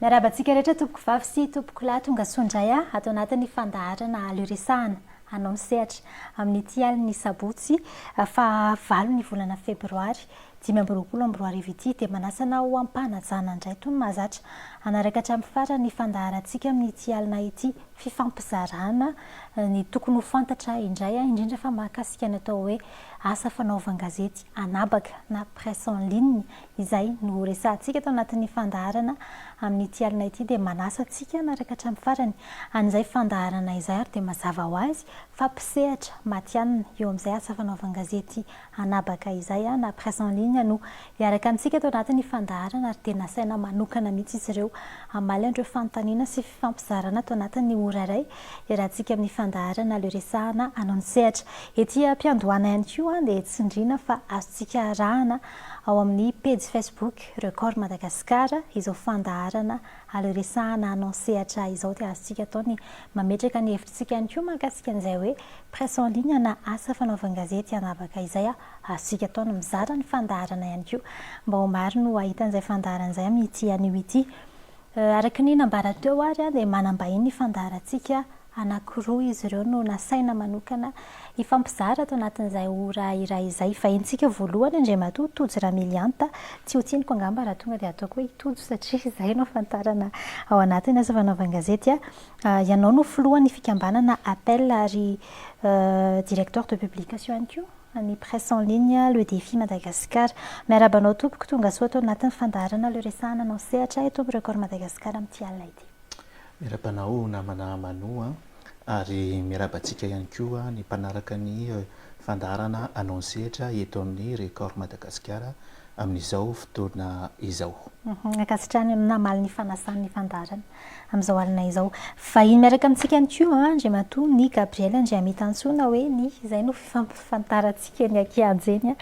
Miarahaba antsika rehetra tompokovavy sy tompokolahy tonga soa indray a ato anatin'ny fandaharana Aleo Resahana hanao ny sehatra amin'ity alin'ny sabotsy fahavalon'ny volana febroary dimy amby roapolo amby roa arivo ity dia manasa anao ho am-panajana indray toy ny mahazatra hanaraka hatramin'ny farany ny fandaharantsika amin'ity alina ity fifampizarana ny tokony ho fantatra indray a indrindra fa mahakasika ny atao hoe asa fanaovan-gazety anabaka na presse en ligne Izay no ho resahantsika ato anatin'ny fandaharana amin'ity alina ity dia manasa antsika hanaraka hatramin'ny farany an'izay fandaharana izay ary dia mazava ho azy fa mpisehatra matihanina eo amin'izay asa fanaovan-gazety anabaka izay na presse en ligne no hiaraka amintsika ato anatin'ny fandaharana ary dia nasaina manokana mihitsy izy ireo hamaly an'ireo fanontaniana sy fifampizarana ato anatin'ny ora iray iarahantsika amin'ny fandaharana le resahana anao ny sehatra ety am-piandohana ihany koa dia tsindriana fa azontsika arahana ao amin'ny pejy Facebook Record Madagascar izao fandaharana ary resahana anao sehatra izao dia azontsika atao ny mametraka ny hevitritsika ihany koa mahakasika an'izay hoe presse en ligne na asa fanaovan-gazety hanavaka izay azontsika atao ny mizara ny fandaharana ihany koa mba ho maro no hahita an'izay fandaharana izay amin'ity anio ity. Araka ny nambara teo ary dia manam-bahiny ny fandaharantsika Anankiroa izy ireo no nasaina manokana hifampizara ato anatin'izay ora iray izay. Vahintsika voalohany Andriamatoa Tojo Ramilianta, tsy ho tsiniko angamba raha tonga dia ataoko hoe i Tojo satria izay no ahafantarana ao anatin'ny asa fanaovan-gazety ahy. Ianao no filohan'ny fikambanana APEL ary directeur de publication ihany koa an'ny presse en ligne Le Défi Madagascar. Miarahaba anao tompoko, tongasoa ato anatin'ny fandaharana Le Resahana anao sehatra eto amin'ny Record Madagascar amin'ity alina ity. Miaraba anao namana Manu a! ary miaraba antsika ihany koa ny mpanaraka ny fandaharana anao ny sehatra eto amin'ny Record Madagasikara amin'izao fotoana izao. Ankasitrahana ianao namaly ny fanasany ny fandaharana amin'izao alina izao. Vahiny miaraka amintsika ihany koa Andriamatoa Ny Gabriel Andriamitantsoa na hoe Ny, izay no fifamp. Fantarantsika ny ankianja eny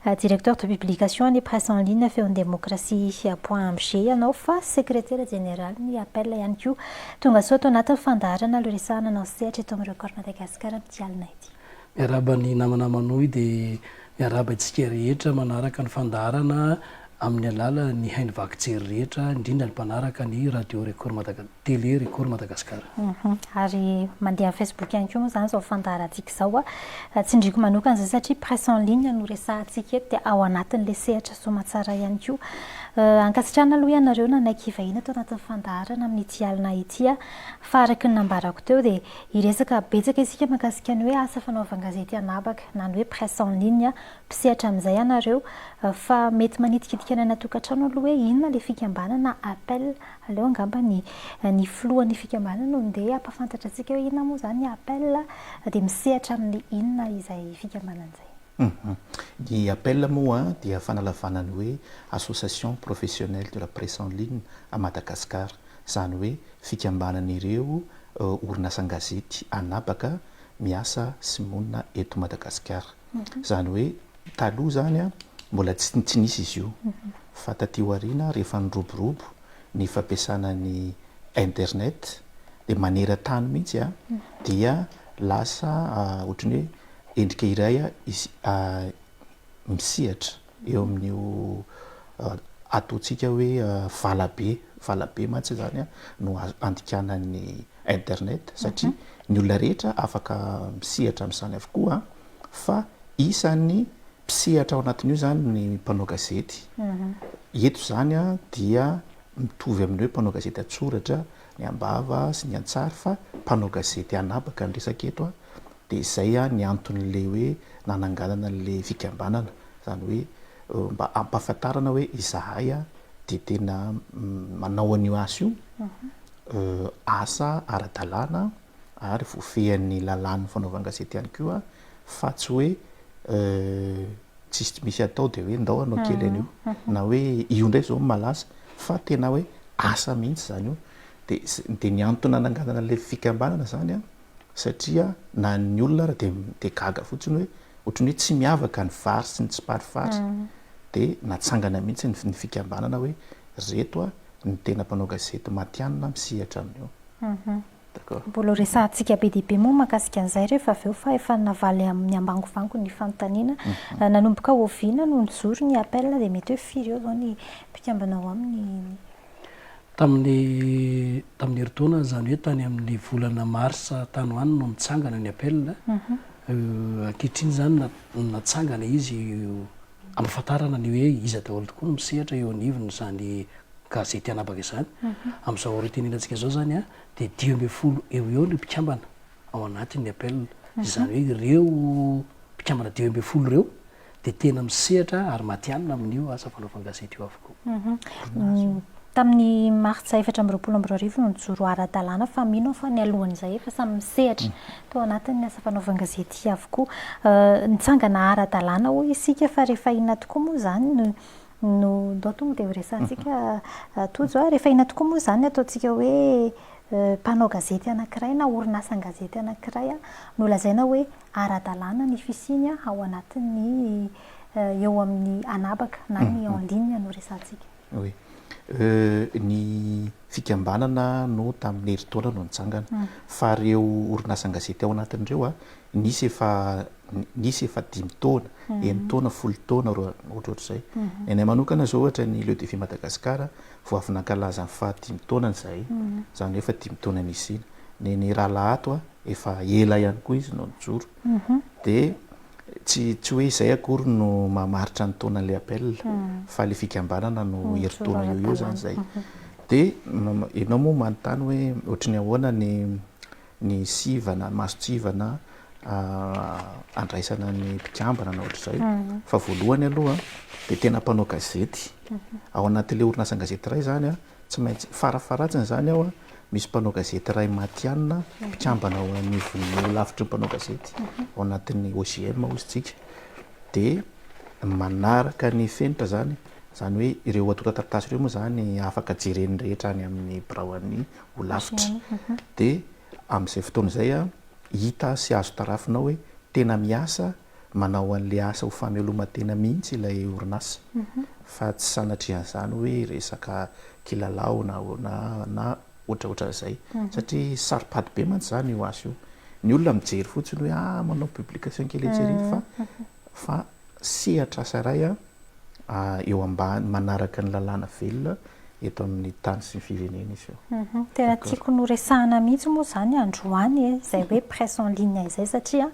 a! Directeur de publication ny presse en ligne Feon'ny Demokrasia point amg ianao fa Sekretera Jeneraly ny APEL ihany koa. Tonga soa tao anatin'ny fandaharana le resaha nanao ny sehatra eto amin'ny Record Madagascar amin'ity alina ity. Miarahaba ny namana manohy dia miarahaba antsika rehetra manaraka ny fandaharana amin'ny alalan'ny haino vaky jery rehetra, indrindra ny mpanaraka ny Radio Record Madaga Télé Record Madagasikara. Ary mandeha amin'ny Facebook ihany koa moa izany izao fandaharantsika izao. Tsindriako manokana izay satria presse en ligne no resahantsika eto dia ao anatin'ilay sehatra soamantsara ihany koa. Ankasitrahana aloha ianareo nanaiky hivahiny ato anatin'ny fandaharana amin'ity alina ity. Fa araka ny nambarako teo dia hiresaka betsaka isika mahakasika ny hoe asa fanaovan-gazety anabaka na ny hoe presse en ligne Mpisehatra amin'izay ianareo fa mety manitikitika ny any an-tokantrano aloha hoe inona ilay fikambanana Apl. Aleo angamba ny ny filohan'ny fikambanana no ndeha hampahafantatra antsika hoe inona moa izany ny Apl dia misehatra amin'ny inona izay fikambanana izay. Ny Apl moa dia fanalavana ny hoe Association Professionnelle de la Presse en Ligne à Madagascar, izany hoe fikambanan'ireo orinasa an-gazety an'habaka miasa sy monina eto Madagasikara. Izany hoe taloha izany mbola tsy nisy izy io fa taty aoriana rehefa niroborobo ny fampiasana ny internet dia maneran-tany mihitsy dia lasa ohatran'ny hoe endrika iray misehatra. eo amin'io ataontsika hoe valabe, valabe mantsy izany no andikanan'ny internet satria ny olona rehetra afaka misehatra amin'izany avokoa fa isan'ny mpisehatra ao anatin'io izany ny mpanao gazety. Eto izany dia mitovy amin'ny hoe mpanao gazety an-tsoratra ny am-bava sy ny an-tsary fa mpanao gazety anabaka ny resaka eto Dia izay an ny anton'ilay hoe nananganana an'ilay fikambanana, izany hoe mba hampahafantarana hoe izahay an dia tena manao an'io asa io, asa ara-dalàna ary voafehin'ny lalàn'ny fanaovan-gazety ihany koa fa tsy hoe tsisy misy atao dia hoe ndao hanao kely an'io na hoe io indray izao no malaza fa tena hoe asa mihitsy izany io. Dia dia ny antony nananganana an'ilay fikambanana izany an satria na ny olona ary dia dia gaga fotsiny hoe ohatran'ny hoe tsy miavaka ny vary sy ny tsiparifary dia natsangana mihitsy ny ny fikambanana hoe reto a ny tena mpanao gazety matihanina misehatra amin'io d'accord mbola ho resahantsika be dia be moa mahakasika an'izay rehefa avy eo fa efa navaly amin'ny ambangovango ny fanontaniana nanomboka oviana no nijoro ny appel dia mety hoe firy eo izao ny mpikambana ao aminy Tamin'ny tamin'ny herintaona, izany hoe tany amin'ny volana marsa tany ho any no nitsangana ny appel. Ankehitriny izany na- natsangana izy hampafantarana ny hoe iza daholo tokoa no misehatra eo anivon'izany gazety anabaka izany. Amin'izao ora itenenantsika izao izany dia dimy ambin'ny folo eo ho eo ny mpikambana ao anatin'ny appel. Izany hoe ireo mpikambana dimy ambin'ny folo ireo dia tena misehatra ary matihanina amin'io asa fanaovana gazety io avokoa. Tamin'ny martsa efatra amby roapolo amby roa arivo no nijoro ara-dalàna fa mino aho fa nialohan'izay efa samy misehatra tao anatin'ny asa fanaovana gazety avokoa. Nitsangana ara-dalàna hoy isika fa rehefa inona tokoa moa izany no no ndao tonga dia horesahantsika Tojo a! rehefa inona tokoa moa izany ny ataontsika hoe mpanao gazety anankiray na orinasan-gazety anankiray no lazaina hoe ara-dalàna ny fisiany ao anatin'ny eo amin'ny anabaka na ny en ligne no resahantsika. Oui. Ny fikambanana no tamin'ny herintaona no nitsangana. Fa ireo orinasan-gazety ao anatiny ireo, nisy efa nisy efa dimy taona, enin-taona, folo taona, ohatrohatr'izay. Ny anay manokana izao ohatra ny Le Defi Madagascar vao avy nankalaza ny faha dimy taonany izahay. Izany hoe efa dimy taona nisiana. Ny an'i Rahalahy ato efa ela ihany koa izy no nijoro dia tsy tsy hoe izay akory no mamaritra ny taonan'ilay appel fa ilay fikambanana no herintaona eo eo zany izay dia ianao moa manontany hoe ohatry ny ahoana ny ny sivana mason-tsivana andraisana ny mpikambana na ohatra izay fa voalohany aloha dia tena mpanao gazety ao anatin'ilay orinasa an-gazety iray izany a Tsy maintsy, farafaharatsiny izany ao, misy mpanao gazety iray matihanina, mpikambana ao anivon'ny Holavitr'ireo mpanao gazety ao anatin'ny OJM hoy isika, dia manaraka ny fenitra izany, izany hoe ireo antontan-taratasy ireo moa izany afaka jeren'ny rehetra any amin'ny biraon'ny Holafitra, dia amin'izay fotoana izay hita sy azo tarafina ao hoe tena miasa manao an'ilay asa ho fameloma-tena mihitsy ilay orinasa fa tsy sanatrian'izany hoe resaka kilalao na ahoana na ohatraohatran'izay satria saro-pady be mantsy izany io asa io. Ny olona mijery fotsiny hoe ah manao publication kely etsy ery fa fa sehatr'asa iray an! eo ambany manaraka ny lalàna velona eto amin'ny tany sy ny firenena izy io. Tena tiako noresahana mihitsy moa izany androany e, izay hoe presse en ligne izay satria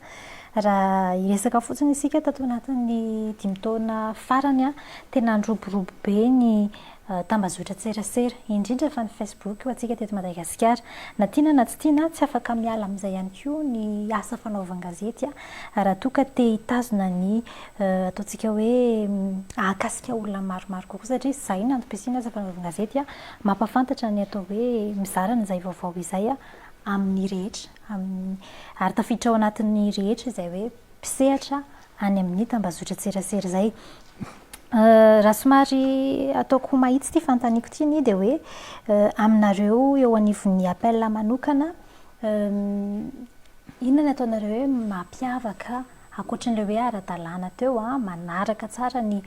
raha hiresaka fotsiny isika tato anatin'ny dimy taona farany tena niroborobo be ny tambazotran-tserasera, indrindra fa ny Facebook ho antsika teto Madagasikara. Na tiana na tsy tiana, tsy afaka miala amin'izay ihany koa ny asa fanaovan-gazety raha toa ka te hitazona ny ataontsika hoe hahakasika olona maromaro kokoa satria izay no antom-pisian'ny asa fanaovan-gazety, mampahafantatra ny atao hoe mizara an'izay vaovao izay amin'ny rehetra, amin'ny, ary tafiditra ao anatin'ny rehetra izay hoe. mpisehatra any amin'ny tambazotran-tserasera izay. Raha somary ataoko mahitsy ity fanontaniako ity anie dia hoe aminareo eo anivon'ny APEL manokana, inona no ataonareo hoe mampiavaka ankoatran'ilay hoe ara-dalàna teo, manaraka tsara ny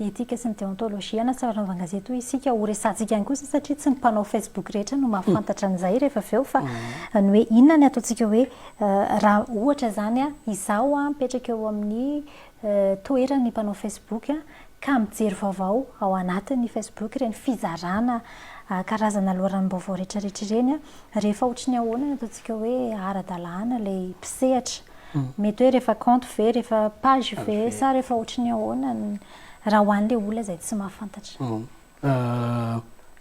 Dietika sy ny deontologie na tsy anaovana gazety hoy isika ho resahantsika ihany kosa satria tsy ny mpanao facebook rehetra no mahafantatra an'izay rehefa avy eo fa ny hoe inona ny ataontsika hoe raha ohatra izany izaho mipetraka eo amin'ny toeran'ny mpanao facebook ka mijery vaovao ao anatin'ny facebook ireny fizarana karazana loharanom-baovao rehetrarehetra ireny rehefa ohatry ny ahoana no ataontsika hoe ara-dalàna ilay mpisehatra Mety hoe rehefa compte ve, rehefa page ve, sa rehefa ohatry ny ahoana ny raha ho an'ilay olona izay tsy mahafantatra?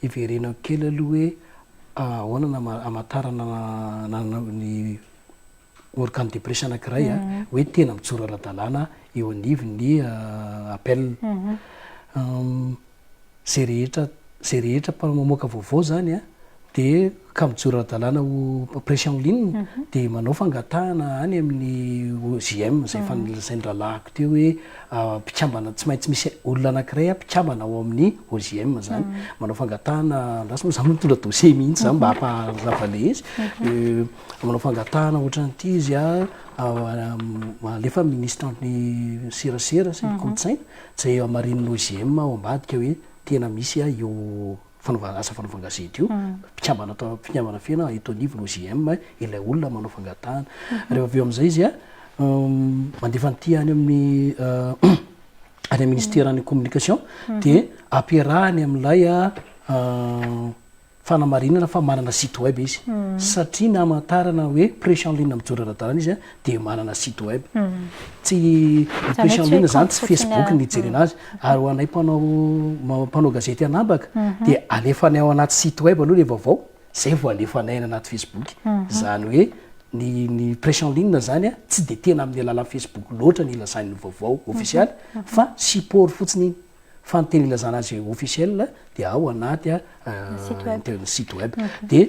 Hiverenako kely aloha hoe ahoana no hamantarana ny organe de presse anankiray hoe tena mijoro ara-dalàna eo anivon'ny APEL. Zay rehetra zay rehetra mpanao mamoaka vaovao zany a de ka mijoro ara-dalàna ho pression en ligne de manao fangatahana any amin'ny OJM izay efa nolazain'ny rahalahiko teo hoe mpikambana tsy maintsy misy olona anankiray mpikambana ao amin'ny OJM zany manao fangatahana andraso moa za mbola mitondra dossier mihitsy za mba hamparavale izy manao fangatahana ohatran'ity izy a alefa amin'ny ministran'ny serasera sy ny kolontsaina Jay Amarino no GM ao ambadika hoe tena misy a io fanaovana asa fanaovan-gazety io, mpikambana ato mpikambana feno eto anivony ho GM ilay olona manao fangatahana. Rehefa avy eo amin'izay izy a mandefa an'ity any amin'ny any amin'ny ministeran'ny communication dia ampiarahany amin'ilay Fanamarinana fa manana site web izy satria na amantarana hoe prêche en ligne mijoro ara-dalàna izy dia manana site web. Tsy, ny prêche en ligne izany tsy facebook no hijerena azy. Ary ho anay mpanao, mpanao gazety an'habaka dia alefanay ao anaty site web aloha ilay vaovao, izay vao alefanay any anaty facebook. Izany hoe ny, ny prêche en ligne izany tsy dia tena amin'ny alalan'ny facebook loatra no ilazany ny vaovao ofisialy fa support fotsiny iny. Fa ny teny ilazana azy officiel dia ao anaty ny site web. Dia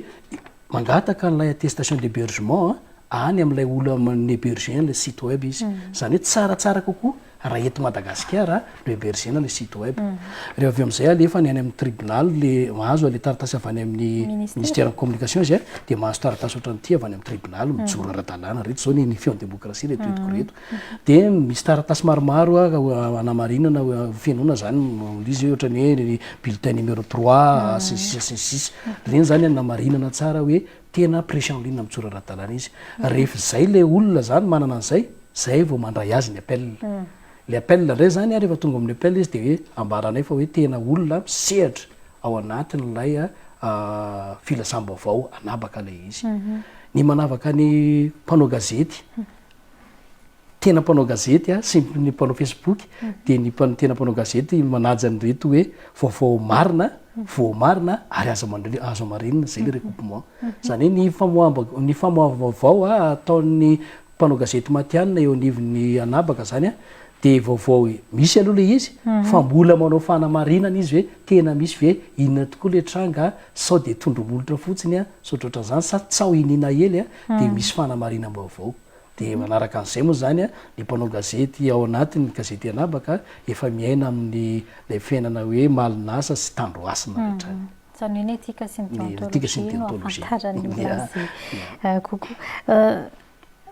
mangataka an'ilay attestation d'hébergement any amin'ilay olona mi-héberger an'ilay site web izy. Izany hoe tsaratsara kokoa raha eto Madagasikara no héberger-na ilay site web. Dia avy eo amin'izay alefany any amin'ny tribunal ilay, mahazo ilay taratasy avy any amin'ny ministère ny communication izy dia mahazo taratasy ohatran'ity avy any amin'ny tribunal mijoro ara-dalàna. Ireto izao ny feo ny démocratie ireto entiko ireto. Dia misy taratasy maromaro hanamarinana, hofenoina izany, ilay izy hoe ohatran'ny hoe bulletin numéro trois, sy ny sisa sy ny sisa. Ireny izany hanamarinana tsara hoe tena prêche en ligne mijoro ara-dalàna izy. Rehefa izay ilay olona izany manana an'izay, izay vao mandray azy ny appel. Ilay appel indray izany, rehefa tonga amin'ny appel izy dia hoe ambaranay fa hoe tena olona misehatra ao anatin'ilay filasambaovao hanabaka ilay izy. Ny manavaka ny mpanao gazety tena mpanao gazety a sy ny mpanao facebook dia ny mpan- tena mpanao gazety manaja an'ireto hoe vaovao marina voamarina ary azo amandri- azo amarenina zay le recoupement zany hoe ny famoahamba- ny famoaham-baovao a ataon'ny mpanao gazety matihanina eo anivon'ny anabaka zany a dia vaovao i- misy aloha le izy fa mbola manao fanamarinana izy hoe tena misy ve inona tokoa le tranga a sao dia tondro-molotra fotsiny a sao ohatraohatran'izany sa tsaho iniana hely a dia misy fanamarinam-baovao. Dia manaraka an'izay moa izany ny mpanao gazety ao anatin'ny gazety Anabaka efa miaina amin'ny ilay fiainana hoe Malinasa sy Tandrohasina hatrany. Izany hoe ny etika sy ny deontologie no ahafantarany ny azy kokoa.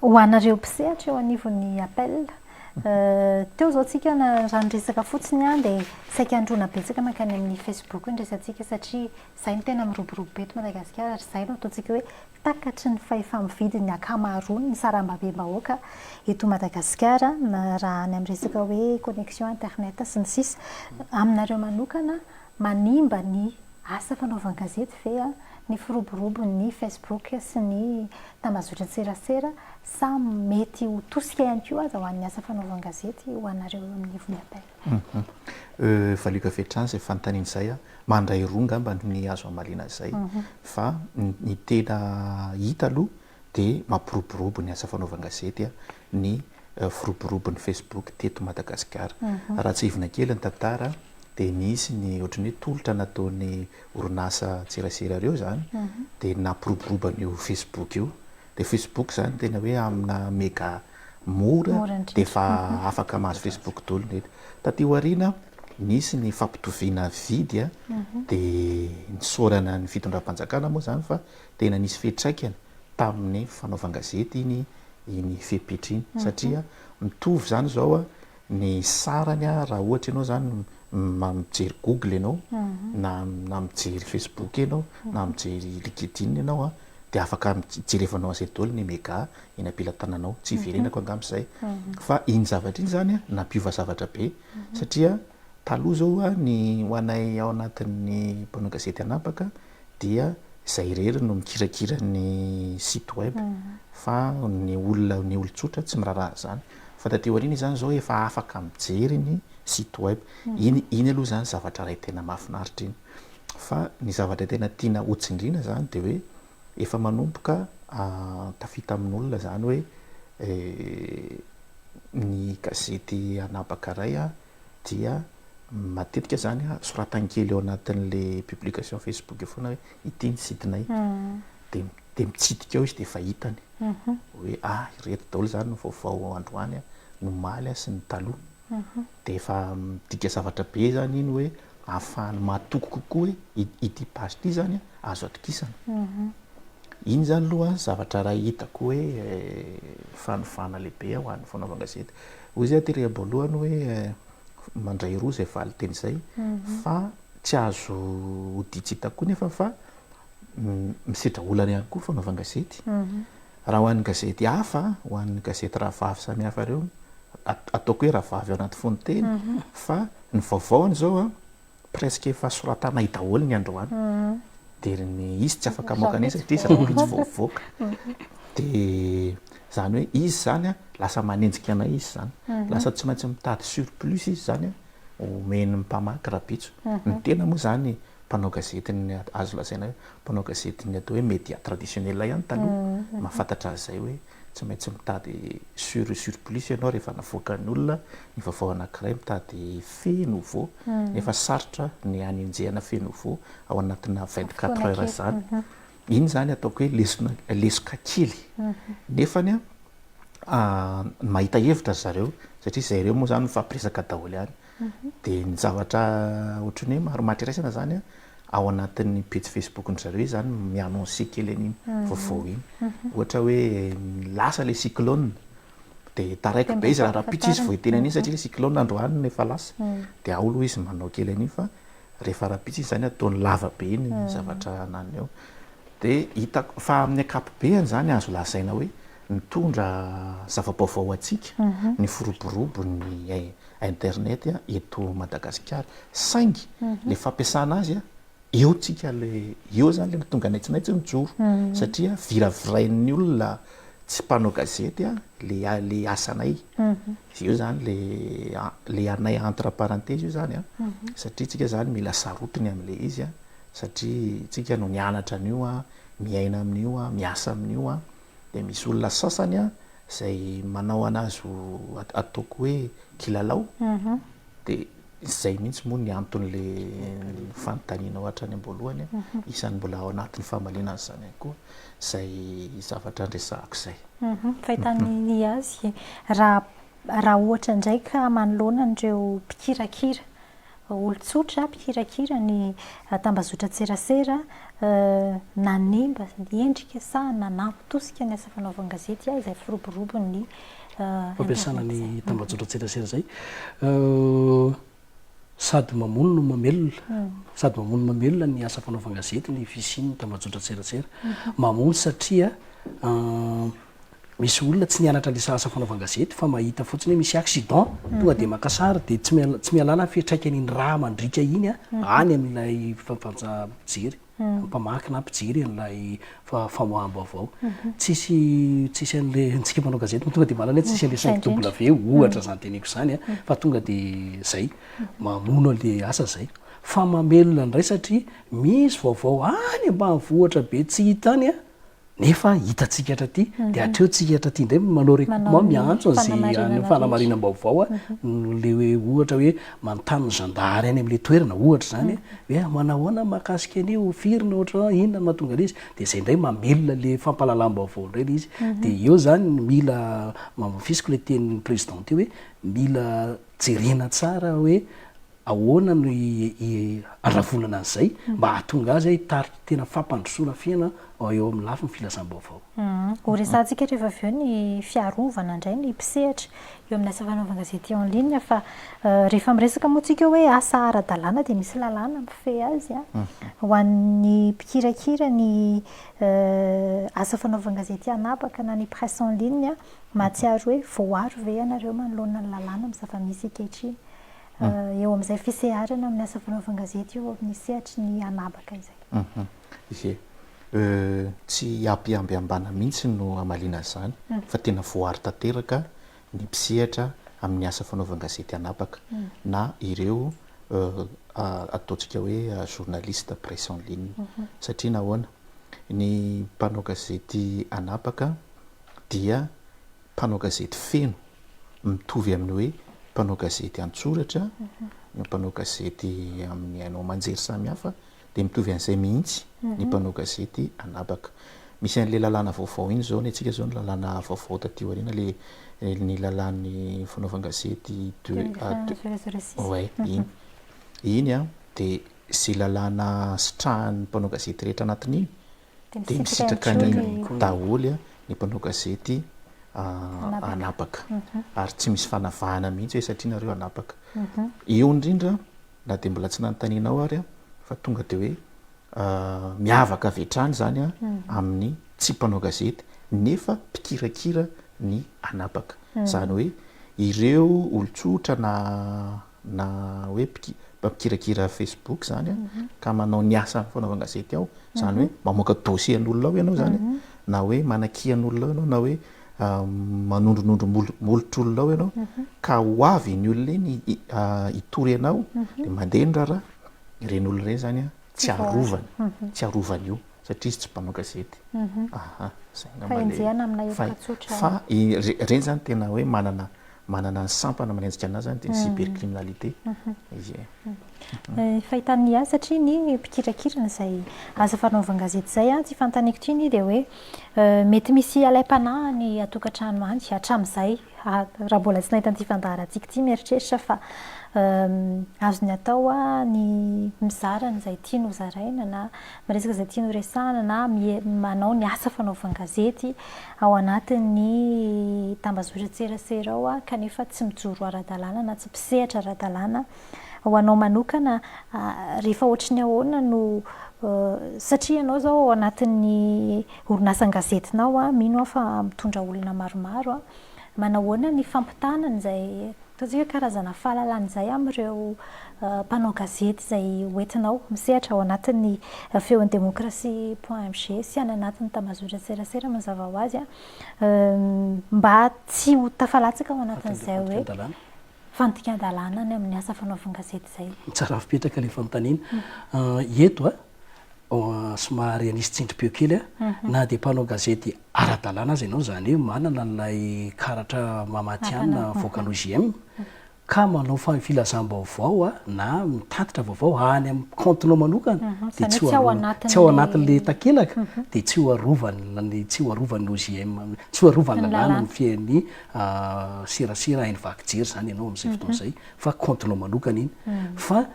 Ho anareo mpisehatra eo anivon'ny APEL, teo izao tsika raha niresaka fotsiny dia saika handroana betsaka mankany amin'ny Facebook ny resatsika satria Izay no tena miroborobo eto Madagasikara ary izay no ataontsika hoe takatry ny fahefa-mividin'ny ankamaroan'ny sarambabem-bahoaka eto Madagasikara na raha any amin'ny resaka hoe connexion internet sy ny sisa. Aminareo manokana, manimba ny asa fanaovan-gazety ve ny firoborobon'ny Facebook sy ny tambazotran-tserasera sa mety ho tosika ihany koa aza ho an'ny asa fanaovan-gazety ho anareo eo anivon'ny APEL? Humm euh valio avy hatrany izay fanontaniana izay a! mandray roa angamba ny azo hamaliana izay fa ny tena hita aloha dia mampiroborobo ny asa fanaovan-gazety ny firoborobon'ny facebook teto Madagasikara. Raha tsihivina kely ny tantara dia nisy ny ohatran'ny hoe tolotra nataon'ny orinasa an-tserasera ireo izany dia nampiroborobo an'io facebook io, dia facebook izany tena hoe amina mega mora dia efa afaka mahazo Facebook daholo ny hety. Taty aoriana nisy ny fampitoviana vidy dia nisaorana ny fitondram-panjakana moa izany fa tena nisy fiatraikany tamin'ny fanaovan-gazety iny iny fepetra iny satria mitovy izany izao ny sarany raha ohatra ianao izany mijery google ianao na na mijery facebook ianao na mijery linkedin ianao dia afaka jerevanao an'izay daholo ny mega eny am-pelatananao, tsy hiverenako angamba izay fa iny zavatra iny izany nampiova zavatra be satria taloha izao ny ho anay ao anatin'ny mpanao gazety hanapaka dia izay irery no mikirakira ny site web fa ny olona ny olon-tsotra tsy miraharaha an'izany fa taty aoriana izany izao efa afaka mijery ny site web iny, iny aloha izany zavatra iray tena mahafinaritra iny fa ny zavatra tena tiana hotsindriana izany dia hoe Efa manomboka tafita amin'olona izany hoe ny gazety anabaka iray dia matetika izany soratany kely ao anatin'ilay publication Facebook eo foana hoe ity ny site-nay. Dia mitsidika ao izy dia efa hitany hoe ireto daholo izany ny vaovao androany, ny omaly sy ny taloha. dia efa midika zavatra be izany iny hoe ahafahany mahatoky kokoa hoe ity page ity izany azo atokisana. Iny izany aloha zavatra iray hitako hoe fanovana lehibe ho an'ny fanaovana gazety. Hoy izy aty rehaby voalohany hoe mandray roa izay valinteny izay fa tsy azo hodian-tsy hita koa anefa fa misedra olana ihany koa ny fanaovan-gazety. Raha ho an'ny gazety hafa, ho an'ny gazety rahavavy samihafa ireo, ataoko hoe rahavavy ao anaty fonon-teny, fa ny vaovaony izao, presque efa soratanay daholo ny androany, dia ry ny izy tsy afaka mamoaka an'iny satria zava-bitsy vao hivoaka. Dia izany hoe izy izany lasa manenjika anay izy izany. Lasa tsy maintsy mitady surplus izy izany homeny ny mpamaky rabitso. Ny tena moa izany mpanao gazety ny azo lazaina hoe Mpanao gazety ny atao hoe media traditionnel ihany taloha, mahafantatra azy izay hoe tsy maintsy mitady sur et sur plus ianao rehefa navoakan'ny olona ny vaovao anankiray, mitady fait nouveau, nefa sarotra ny hanenjehana fait nouveau ao anatina vingt quatre heures izany. Iny izany ataoko hoe lesona, lesoka kely. Nefany an, mahita hevitra ry zareo, satria izay ireo moa izany mifampiresaka daholo ihany. dia ny zavatra ohatran'ny hoe marimaritra iraisana izany ao anatin'ny pejy Facebook-ndry zareo izany mi-annoncer kely an'iny vaovao iny. Ohatra hoe lasa ilay cyclone dia taraiky be izy raha rahampitso izy vao hiteny an'iny satria ilay cyclone androany no efa lasa. Dia ao aloha izy manao kely an'iny fa rehefa rahampitso iny izany ataony lava be iny ny zavatra ananiny ao. Dia hitako fa amin'ny ankapobeany izany azo lazaina hoe mitondra zava-baovao ho antsika ny firoborobo ny internet eto Madagasikara saingy le fampiasana azy eo tsika le eo zany le matonga anay tsy maintsy mijoro satria viravirain'ny olona tsy mpanao gazety le le asanay eo zany le le anay entre parenthèse io zany satria tsika zany mila sarotiny amle izy satria tsika no nianatra an'io miaina amin'io miasa amin'io dia misy olona sasany an izay manao anazy ho ataoko hoe kilalao dia izay mihitsy moa ny anton'le fanontanianao hatrany am-boalohany an isan'ny mbola ao anatin'ny famaliana an'izany ihany koa izay zavatra andresahako izay fahitany ny azy raha raha ohatra indray ka manoloana an'ireo mpikirakira olon-tsotra mpikirakira ny tambazotran-tserasera nanimba endrika sa nanampy tosika ny asa fanaovan-gazety ahy izay firoborobon'ny fampiasana ny tambazotran-tserasera izay sady mamono no mamelona sady mamono no mamelona ny asa fanaovan-gazety ny fisian'ny tambazotran-tserasera mamono satria misy olona tsy nianatra an'isa asa fanaovan-gazety fa mahita fotsiny hoe misy accident, tonga dia maka sary dia tsy tsy mihalala ny fiantraikan'iny rà mandriaka iny any amin'ilay fampanjana mpijery, mpamaky na mpijery an'ilay famoaham-baovao. Tsisy tsisy an'ilay antsika mpanao gazety tonga dia mahalala hoe tsisy an'ilay cinq W ohatra izany teneniko izany fa tonga dia izay, mamono an'ilay asa izay. Fa mamelona indray satria misy vaovao any ambanivohitra be tsy hita any, Nefa hitantsika hatraty dia hatreo tsika hatraty indray manao recoutement miantso an'izay fanamarinam-baovao le hoe ohatra hoe manontany ny zandary any amin'ilay toerana ohatra izany hoe manahoana mahakasika an'io firy no ohatra inona no mahatonga ilay izy dia izay indray mamelona le fampahalalam-baovao indray ilay izy dia eo izany ny mila mamafisiko ilay tenin'ny président teo hoe mila jerena tsara hoe Ahoana no iharavonana an'izay mba hahatonga azy hitarika tena fampandrosoana fiaina eo amin'ny lafiny filazam-baovao? Horesahantsika rehefa avy eo ny fiarovana indray ny mpisehatra eo amin'ny asa fanaovan-gazety en ligne fa rehefa miresaka moa isika hoe asa ara-dalàna dia misy lalàna mifehy azy. Ho an'ny mpikirakira ny asa fanaovan-gazety anabaka na ny presse en ligne, mahatsiaro hoe voaaro ve ianareo manoloana ny lalàna amin'ny zava-misy ankehitriny? eo amin'izay fiseharana amin'ny asa fanaovana gazety eo amin'ny sehatry ny anabaka izay. Ie. Tsy hampihamby ambana mihitsy no hamaliana an'izany fa tena voaaro tanteraka ny mpisehatra amin'ny asa fanaovana gazety anabaka na ireo ataontsika hoe journaliste presse en ligne. Satria nahoana? Ny mpanao gazety anabaka dia. Mpanao gazety feno, mitovy amin'ny hoe mpanao gazety an-tsoratra na mpanao gazety amin'ny haino aman-jery samihafa, dia mitovy an'izay mihitsy ny mpanao gazety an'habaka. Misy an'ilay lalàna vaovao iny izao, ny antsika izao ny lalàna vaovao taty aoriana, ilay ny lalàn'ny fanaovan-gazety deux mille vingt zéro zéro six. Ouais, iny. Iny dia izay lalàna sitrahan'ny mpanao gazety rehetra anatin'iny dia misitraka any koa daholo ny mpanao gazety anabaka ary tsy misy fanavahana mihitsy hoe satria nareo anabaka eo indrindra na dia mbola tsy nanontaniana ao ary fa tonga dia hoe miavaka avy hatrany izany a amin'ny tsy mpanao gazety nefa mpikirakira ny anabaka izany hoe ireo olon-tsotra na na hoe mpikirakira facebook zany ka manao ny asany foana ao an-gazety ao, zany hoe mamoaka dossier an'olona ao ianao zany na hoe manakia an'olona ao ianao na hoe manondronondro molotr'olona ao ianao ka ho avy iny olona iny hitory anao dia mandeha ny raharaha, ireny olona ireny zany tsy arovana, tsy arovana io satria izy tsy mpanao gazety, aha, zay angamba le fa ireny zany tena hoe manana manana ny sampana manenjika an'azy zany dia ny cybercriminalité izy e. Fahitany ny azy satria ny mpikirakira an'izay asa fanaovan-gazety izay an, tsy fantaniko ity ny dia hoe mety misy alaim-panahiny an-tokantrano any hatramin'izay raha mbola tsy nahita an'ity fandaharantsika ity mieritreritra fa azony atao ny mizara an'izay tiany ho zaraina na miresaka izay tiany ho resahina na manao ny asa fanaovan-gazety. ao anatin'ny tambazotran-tserasera ao kanefa tsy mijoro ara-dalàna na tsy mpisehatra ara-dalàna, ho anao manokana rehefa ohatry ny ahoana no satria ianao izao ao anatin'ny orinasa an-gazetinao mino aho fa mitondra olona maromaro, manao ahoana ny fampitana an'izay Ataontsika karazana fahalalana izay amin'ireo mpanao gazety izay hoentinao misehatra ao anatin'ny Feon'ny Demokrasia point mg sy any anatin'ny Tambazotran-tserasera mazava ho azy mba tsy ho tafalatsaka ao anatin'izay hoe fandikan-dalàna any amin'ny asa fanaovan-gazety izay. Tsara fipetraka ilay fanontaniana. Eto somary anisy tsindrim-peo kely aho, na dia mpanao gazety ara-dalàna aza ianao, izany hoe manana an'ilay karatra maha matihanina avoakan'ny OJM, ka manao filazam-baovao na mitatitra vaovao any amin'ny kaontinao manokana, dia tsy ho anatin'ilay takelaka, dia tsy ho arovan'ny, tsy ho arovan'ny OJM, tsy ho arovan'ny lalàna ny fiain'ny serasera haino vaky jery izany ianao amin'izay fotoana izay, fa kaontinao manokana iny. Fa.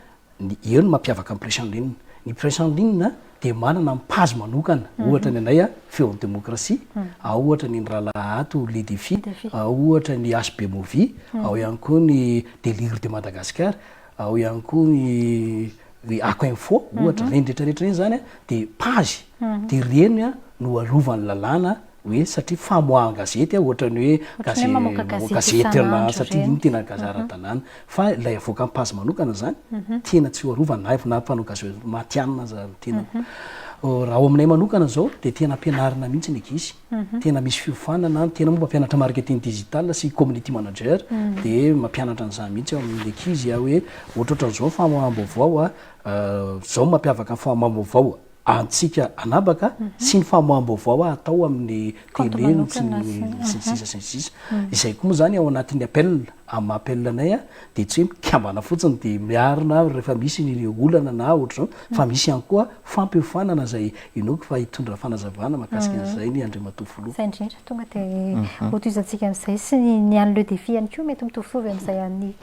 ny eo no mampiavaka ny presse en ligne ny presse en ligne dia manana ny page manokana ohatra ny anay a feo ny demokrasia ao ohatra ny ny rahalahy ato les défis ao ohatra ny HB movie ao ihany koa ny délire de Madagascar ao ihany koa ny ny ako info ohatra ireny rehetra rehetra ireny zany a dia page dia ireny a no arovany lalàna hoe satria famoahan-gazety ohatran'ny hoe gazety mamoaka gazety isan'andro satria iny tena gazety ara-dalàna fa ilay avoaka amin'ny page manokana izany tena tsy ho arovana na na mpanao gazety matihanina aza ny tenako raha ao aminay manokana izao dia tena ampianarina mihitsy ny ankizy tena misy fiofanana tena moa mampianatra marketing digital sy community manager dia mampianatra an'izany mihitsy ao amin'ny ankizy hoe ohatrohatran'izao ny famoaham-baovao izao mampiavaka ny famoaham-baovao antsika anabaka sy ny famoaham-baovao atao amin'ny télé sy ny sisa sy ny sisa. Izay koa moa izany ao anatin'ny appel, amin'ny maha appel anay dia tsy hoe mikambana fotsiny dia miarina rehefa misy ny olana na ohatr'izao fa misy ihany koa fampiofanana izay inoako fa hitondra fanazavana mahakasika an'izay ny Andriamatoa Filoha. Zay indrindra, tonga dia hotohizantsika amin'izay sy ny an'ny Le Défi ihany koa mety mitovitovy amin'izay an'ny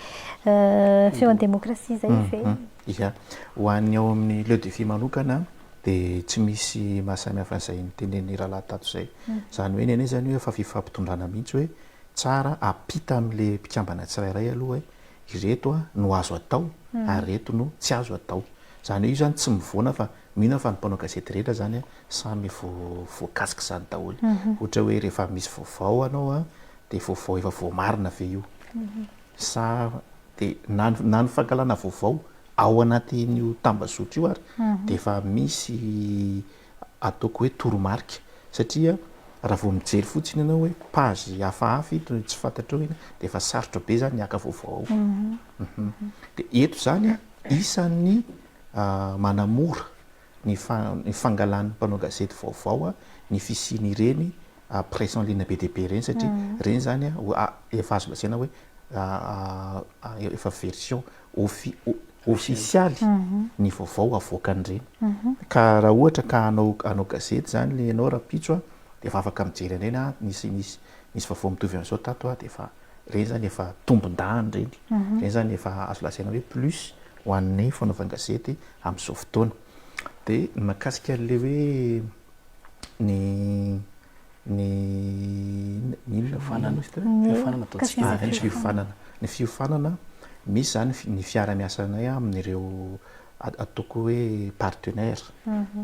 feon'ny demokrasia izay ve? Ia. Ho an'ny ao amin'ny Le Defi manokana dia tsy misy maha samy hafa an'izay notenenin'i rahalahy tato izay. Izany hoe ny anay izany hoe efa fifampitondrana mihitsy hoe tsara ampita amin'ilay mpikambana tsirairay aloha hoe ireto no azo atao ary ireto no tsy azo atao. Izany hoe io izany tsy mivoana fa mino aho fa ny mpanao gazety rehetra izany samy voakasik'izany daholo. Ohatra hoe rehefa misy vaovao anao dia vaovao efa voamarina ve io. sa dia na na ny fankahalana vaovao ao anatin'io tambazotra io ary dia efa misy ataoko hoe toromarika satria raha vao mijery fotsiny ianao hoe page hafahafa ito no tsy fantatrao iny dia efa sarotra be izany ny haka vaovao ao dia eto izany isan'ny manamora ny fangalan'ny mpanao gazety vaovao ny fisian'ireny presse en ligne be dia be ireny satria ireny izany efa azo lazaina hoe efa version ofisialy ny vaovao avoakan'ireny. Ka raha ohatra ka hanao gazety izany ianao rahampitso dia efa afaka mijery an'ireny a, nisy nisy vaovao mitovy an'izao tato aho dia efa ireny izany efa tombondahany ireny, ireny izany efa azo lazaina hoe plus ho an'ny fanaovan-gazety amin'izao fotoana. Dia ny mahakasika an'ilay hoe ny ny ny inona fiofanana izy teo? Fiofanana ataontsika hoe. Ny fiofanana. Ny fiofanana, misy izany ny fiara-miasanay amin'ireo ataoko hoe partenaires.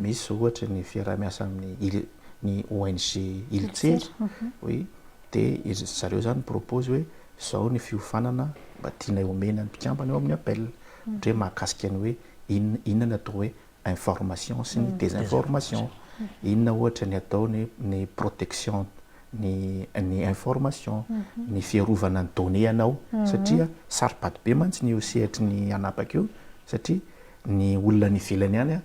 Misy izao ohatra ny fiaraha-miasa amin'ny ny ONG Iltser, hoe. Dia izy zareo izany mi-propose hoe izao ny fiofanana mba tianay homena ny mpikambana eo amin'ny APEL. Ohatra hoe mahakasika ny hoe inona inona ny atao hoe information sy ny désinformation. Inona ohatra ny atao ny ny protection ny ny information, ny fiarovana ny données anao satria saro-pady be mantsy ny eo sehatry ny hanapaka io satria ny olona any ivelany any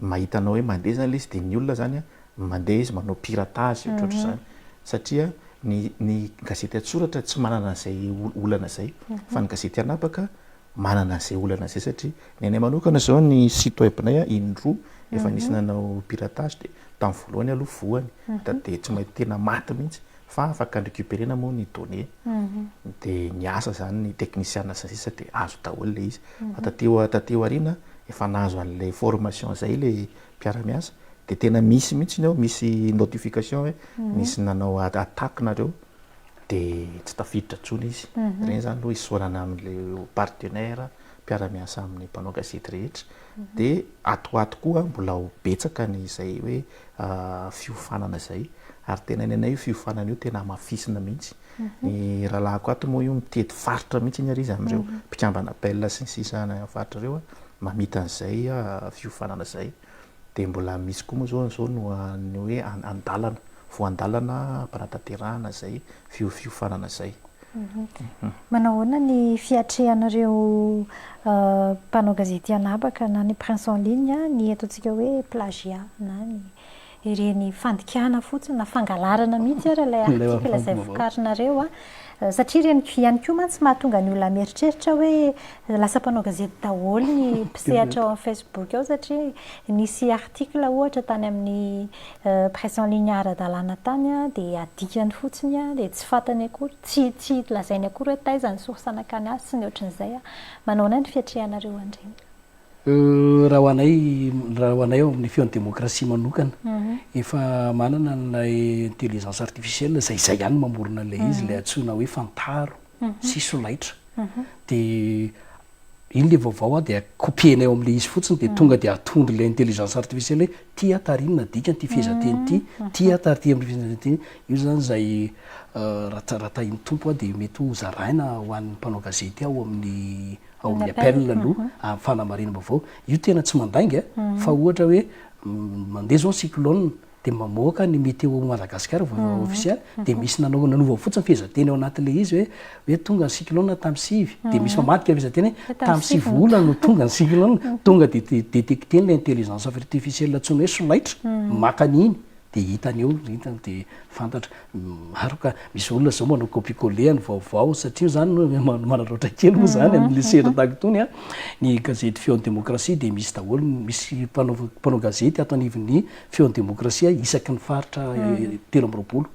mahita anao hoe mandeha izany ilay izy dia ny olona izany Mandeha izy manao piratage ohatrohatr'izany satria ny ny gazety an-tsoratra tsy manana an'izay olana izay fa ny gazety an'habaka manana an'izay olana izay satria ny anay manokana izao ny site web-nay in-droa efa nisy nanao piratage dia tamin'ny voalohany aloha voany dia tsy mahay tena maty mihitsy fa afaka an-recuperer-na moa ny données dia niasa izany ny teknisiana sy ny sisa dia azo daholo ilay izy fa taty taty aoriana efa nahazo an'ilay formation izay ilay mpiara-miasa dia tena misy mihitsy ny ao misy notification hoe misy nanao attaque nareo dia tsy tafiditra tsony izy mhm. reny zany aloha isaorana amle partenaire mpiara-miasa amin'ny mpanao gazety rehetra mhm. dia atoato koa mbola ho betsaka ny izay hoe ah, fiofanana izay ary tena ny anay io fiofanana io tena amafisina mihitsy ny rahalahiko ato moa io mitety faritra mihitsy iny ary izy amin'ireo mpikambana bel sy ny sisa any amin'ny faritra ireo mamita an'izay fiofanana izay dia mbola misy koa moa izao an'izao no ny hoe an-dalana, voan-dalana hampanatanterahana izay fiofanana izay. Manao ahoana ny fiatrehan'ireo mpanao gazety anabaka na ny presse en ligne ny ataontsika hoe plagiat na ny. ireny fandikana fotsiny na fangalarana mihitsy ary ilay article izay vokarinareo a, satria ireny ihany koa mantsy mahatonga ny olona mieritreritra hoe lasa mpanao gazety daholo ny mpisehatra ao amin'ny facebook ao satria nisy article ohatra tany amin'ny presse en ligne ara-dalàna tany a, dia adikany fotsiny a, dia tsy fantany akory, tsy tsy lazainy akory hoe taiza ny source nankany azy sy ny ohatran'izay a, manao ahoana ny fiatrehanareo an'ireny? Raha ho anay, raha ho anay ao amin'ny feon'ny demokrasia manokana, efa manana an'ilay intelligence artificielle izay izay ihany no mamorona an'ilay izy, ilay antsoina hoe fantaro sy solaitra. Dia iny ilay vaovao an, dia copier-nay ao amin'ilay izy fotsiny, dia tonga dia atondran'ilay intelligence artificielle hoe ity aho tarino na dikany ity fehezanteny ity, ity aho tarino amin'ity fehezanteny ity. Io izany izay raha raha tahin'ny Tompo dia mety ho zaraina ho an'ny mpanao gazety ao amin'ny. ao amin'ny appel aloha amin'ny fanamarinam-baovao, io tena tsy mandainga fa ohatra hoe mandeha izao ny cyclone dia mamoaka ny météo Madagascar vaovao ofisialy dia misy nanao nanova fotsiny fehezanteny ao anatin'ilay izy hoe hoe tonga ny cyclone tamin'ny sivy dia misy mamadika fehezanteny hoe tamin'ny sivy volana no tonga ny cyclone tonga dia détecter ny intelligence artificielle antsoina hoe solaitra maka an'iny dia hitany eo dia fantatra Maro ka, misy olona zao manao copie coller ny vaovao satria zany manaraotra kely moa zany amle sehatra tahaka itony a, ny gazety feon'ny demokrasia dia misy daholo, misy mpanao gazety ato anivon'ny feon'ny demokrasia isaky ny faritra telo amby roapolo,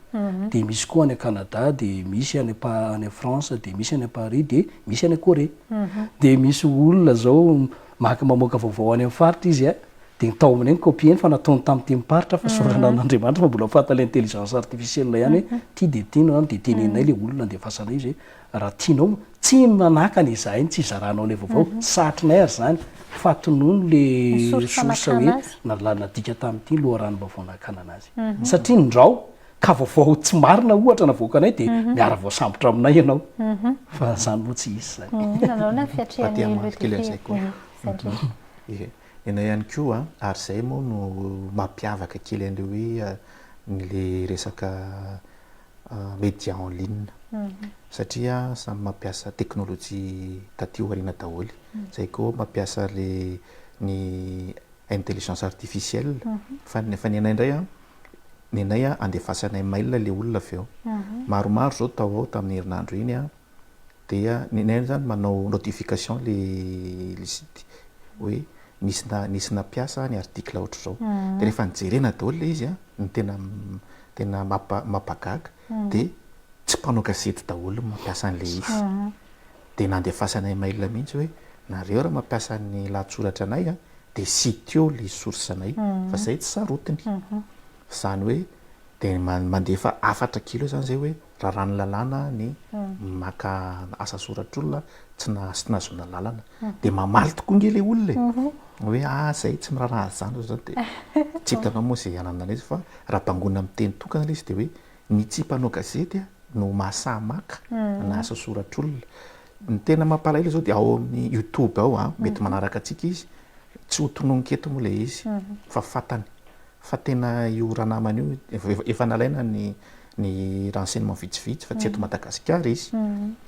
dia misy koa any a Canada, dia misy any a France, dia misy any a Paris, dia misy any a Corée, dia misy olona zao maka mamoaka vaovao any amin'ny faritra izy a, Dia ny tao amin'ny ny copie ny fa nataony tamin'ny tenim-paritra fa sorana an'Andriamanitra fa mbola fantany ilay intelligence artificielle ihany hoe ity dia ity no an dia tenenina ilay olona andefasana izy hoe raha tianao tsy manakana izahay ny tsy hizaranao ilay vaovao tsy sahatrinay ary izany fa tonony ilay source hoe nalalina dika tamin'ity loharanom-baovao nakanana azy satria ny ndrao ka vaovao tsy marina ohatra navoakanay dia mhm. miara voasambotra aminay ianao mhm. fa zany moa tsy izy zany mhm. nanao na fiatrehan'ny loterie Ianao ihany koa a! Ary izay moa no mampiavaka kely an'ilay hoe ilay resaka media en ligne satria samy mampiasa teknolojia taty aoriana daholo. Izay koa mampiasa ilay ny intelligence artificielle. Fa ny anay indray a, ny anay a andefasanay mail ilay olona avy eo. Maromaro izao tao ao tamin'ny herinandro iny a. Dia ny anay zany manao notification le le site hoe nisy na nisy nampiasa ny article ohatr'izao. Dia rehefa nijerena daholo le izy a, ny tena tena mampa mampagaga dia tsy mpanao gazety daholo no mampiasa an'le izy. Dia nandefasanay mail mihitsy hoe nareo raha mampiasa ny lahatsoratra anay a dia sitio le source anay fa zay tsy sarotiny. Zany hoe dia mandefa hafatra kely eo zany zay hoe. raràn'ny lalàna ny maka asa soratr'olona tsy nahazoana lalana, dia mamaly tokoa ange ilay olona e, hoe ah izay tsy miraharaha an'izany izao izany, dia tsy hitanao moa izay anananay izy fa raha bangoina amin'ny teny tokana ilay izy dia hoe ny tsy mpanao gazety no mahasahy maka ana asa soratr'olona. Ny tena mampalahelo izao dia ao amin'ny youtube ao, mety manaraka antsika izy, tsy ho tononiko eto moa ilay izy fa fantany. Fa tena io ranamana io, efa nalaina ny ny renseignements vitsivitsy fa tsy eto Madagasikara izy.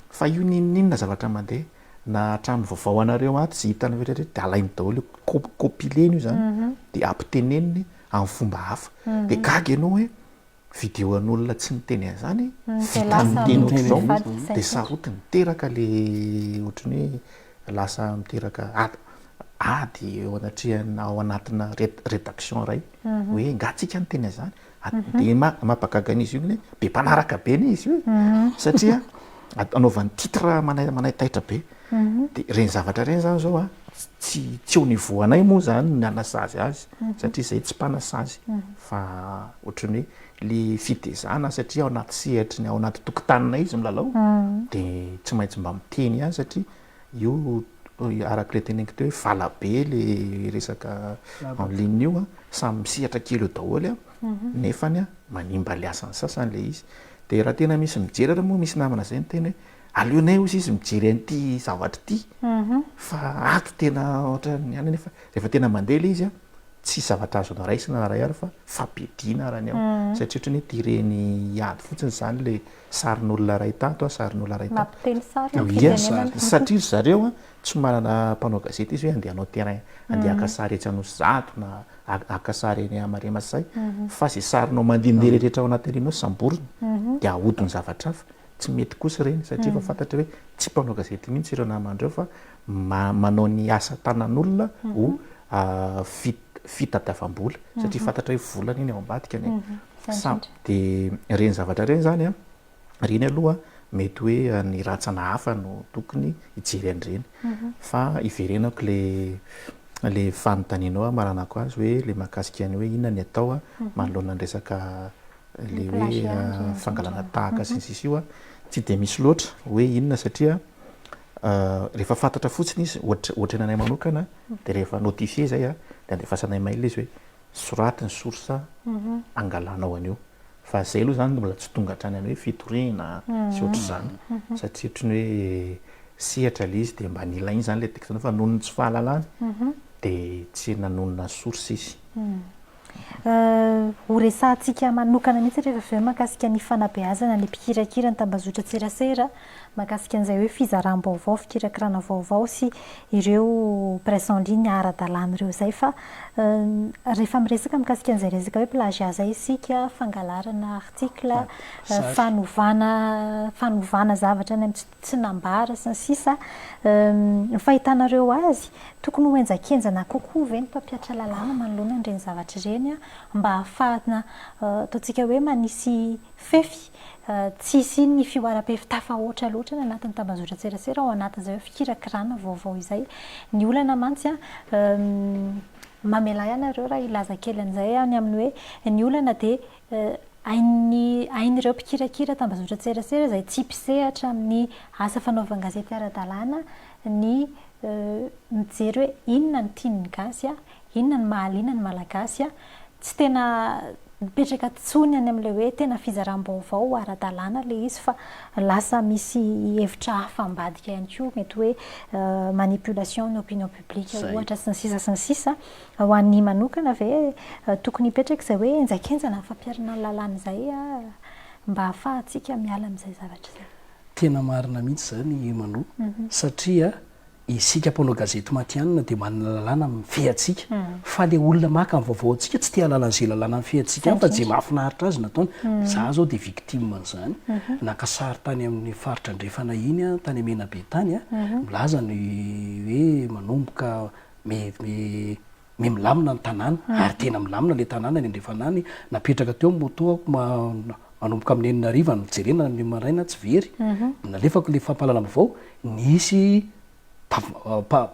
Fa io n'inon'inona zavatra mandeha, na hatramin'ny vaovao anareo ato izay hitanareo rehetra dia alainy daholo io, co-compiler-ny io izany dia ampiteneniny amin'ny fomba hafa. Dia gaga ianao hoe Video an'olona tsy niteny an'izany, vita amin'ny teny ohatr'izao dia sarotiny. Miteraka ilay ohatran'ny hoe lasa miteraka ady ady eo anatrehan'ny ao anatina rédaction iray hoe angaha tsika niteny an'izany? Dia maha mampahagaga an'izy io ny hoe be mpanaraka be anie izy io e! satria anaovany titre manai-manai-taitra be. dia ireny zavatra ireny izany izao a, tsy tsy au niveau anay moa izany ny hanasazy azy satria izahay tsy mpanasazy fa ohatran'ny hoe le fitezana satria ao anaty sehatry ny ao anaty tokotaninay izy milalao dia tsy maintsy mba miteny ihany satria io araka ilay teneniko teo hoe vala be le resaka en ligne io a, samy misehatra kely eo daholo a, nefany a manimba ny asan'ny sasany ilay izy. Dia raha tena misy mijery ary moa misy namana izay niteny hoe Aleonay ozy izy mijery an'ity zavatra ity fa ato tena ohatran'ny ihany nefa rehefa tena mandeha ilay izy a tsisy zavatra azonao raisina raha ihany fa fampidina raha ny ao satria ohatran'ny hoe tireny hiady fotsiny izany ilay sarin'olona iray tato a sarin'olona iray tato. Mampiteny sary ny firenenana. Satria ry zareo a tsy manana mpanao gazety izy hoe andeha hanao terrain andeha haka sary etsy Anosizato na haka sary eny Maremasay fa izay sarinao mandehandeha rehetrarehetra ao anatin'ireny hoe samborina dia ahodin'ny zavatra hafa. Tsy mety kosa ireny satria efa fantatry hoe tsy mpanao gazety mihitsy ireo namany ireo fa manao ny asa tanan'olona ho fitadiavam-bola satria fantatra hoe vola anie ny ao ambadikany e. Dia ireny zavatra ireny izany an, ireny aloha mety hoe ny rantsana hafa no tokony hijery an'ireny. Fa hiverenako ilay fanontanianao maranako azy hoe ilay mahakasika ny hoe inona ny atao manoloana ny resaka Ilay hoe fangalana tahaka sy ny sisa io tsy dia misy loatra hoe inona satria rehefa fantatra fotsiny izy ohatry ny anay manokana dia rehefa notifier izay dia andefasanay mail izy hoe soraty ny source angalanao an'io fa izay aloha izany mbola tsy tonga hatrany amin'ny hoe fitoriana sy ohatr'izany satria ohatry ny hoe sehatra ilay izy dia mba nilaina izany ilay texte-nao fa noho ny tsy fahalalany dia tsy nanonona source izy. Ho resahantsika manokana mihitsy rehefa avy eo ny mahakasika ny fanabeazana ny mpikirakira ny tambazotran-tserasera, mahakasika an'izay hoe fizaram-baovao, fikirakirana vaovao sy ireo presse en ligne ara-dalàna ireo izay fa rehefa miresaka mikasika an'izay resaka hoe plagiat izay isika, fangalarana article, fanovana fanovana zavatra any amin'ny tsy tsy nambara, sy ny sisa Ny fahitanareo azy, tokony ho henjakenjana kokoa ve ny mpampiatra lalàna manoloana an'ireny zavatra ireny mba hahafahana ataontsika hoe manisy fefy tsy hisian'ny fihoaram-pefy tafahoatra loatra any anatin'ny tambazotran-tserasera ao anatin'izay hoe fikirakirana vaovao izay? Ny olana mantsy, mamelà ianareo raha hilaza kely an'izay aho, ny amin'ny hoe ny olana dia Hain'ny hain'ireo mpikirakira tambazotran-tserasera izay tsy mpisehatra amin'ny asa fanaovan-gazety ara-dalàna ny mijery hoe inona no tian'ny gasy, inona no mahaliana ny Malagasy. Tsy tena mipetraka intsony any amin'ilay hoe tena fizaram-baovao ara-dalàna ilay izy fa lasa misy hevitra hafa ambadika ihany koa, mety hoe manipulation ny opinion publique ohatra sy ny sisa sy ny sisa. Ho an'i manokana ve tokony hipetraka izay hoe henjakenjana amin'ny fampiharana ny lalàna izay mba hahafahantsika miala amin'izay zavatra izay? Tena marina mihitsy izany i Mano satria isika mpanao gazety matihanina dia manana lalàna mifehy antsika fa ilay olona maka ny vaovao antsika tsy te hahalala an'izay lalàna mifehy antsika fa izay mahafinaritra azy no ataony. Izaho izao dia victime an'izany. Naka sary tany amin'ny faritra andrefana iny aho, tany Menabe tany, milaza ny hoe manomboka, Me milamina ny tanàna ary tena milamina ilay tanàna ny andrefana any. Napetraka teo ny moto-ako manomboka amin'ny enina hariva no jerena ny maraina tsy very. Mhm. Nalefako ilay fampahalana vaovao, nisy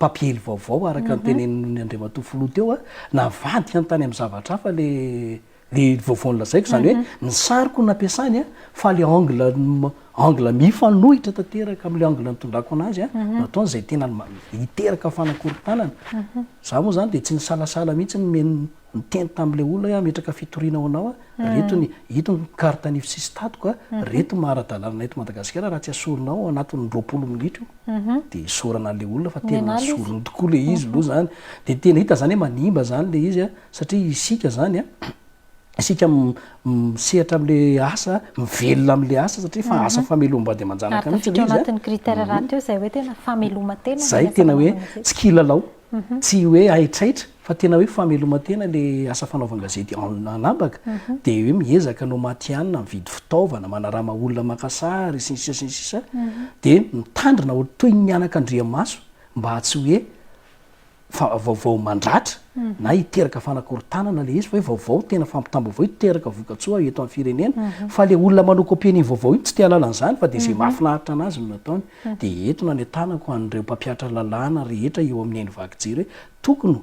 papiely vaovao araka ny mhm. tenenin'ny andriamatoa filoha teo a, navadika ny tany amin'ny zavatra hafa ilay Ny vaovao nolazaiko izany hoe ny sariko no nampiasany fa ilay angle angle mifanohitra tanteraka amin'ilay angle nitondrako anazy no ataony izay tena hiteraka fanakorontanana. Izaho moa izany dia tsy nisalasala mihitsy ny niteny tamin'ilay olona hoe hametraka fitoriana ho anao aho, ireto ny ito ny carte nify sy statiko, ireto ny maha ara-dalàna anay eto Madagasikara, raha tsy asorinao ao anatin'ny roapolo minitra io dia isaorana an'ilay olona fa tena nasoriny tokoa ilay izy aloha izany. Dia tena hita izany hoe manimba izany ilay izy. Satria isika izany an, isika misehatra amin'ilay asa, mivelona amin'ilay asa satria efa asa famelom-bady aman-janaka mihitsy ilay izy an. Ary tafiditra ao anatin'ny critère rahateo izay hoe tena fameloman-tena. Izay tena hoe tsy kilalao, tsy hoe haitraitra fa tena hoe fameloman-tena ilay asa fanaovan-gazety anabaka. Dia hoe miezaka anao matihanina, mividy fitaovana, manarama olona maka sary sy ny sisa sy ny sisa. Dia mitandrina toy ny mianaka andriamaso mba tsy hoe fa vaovao mandratra na hiteraka fanakorontanana ilay izy fa hoe vaovao tena fampitam-baovao hiteraka vokatsoa eto amin'ny firenena fa ilay olona manao kopie ny vaovao iny tsy te halala an'izany fa dia izay mahafinaritra an'azy no nataony dia eto nanentanako an'ireo mpampiatra lalàna rehetra eo amin'ny haino vaky jery hoe tokony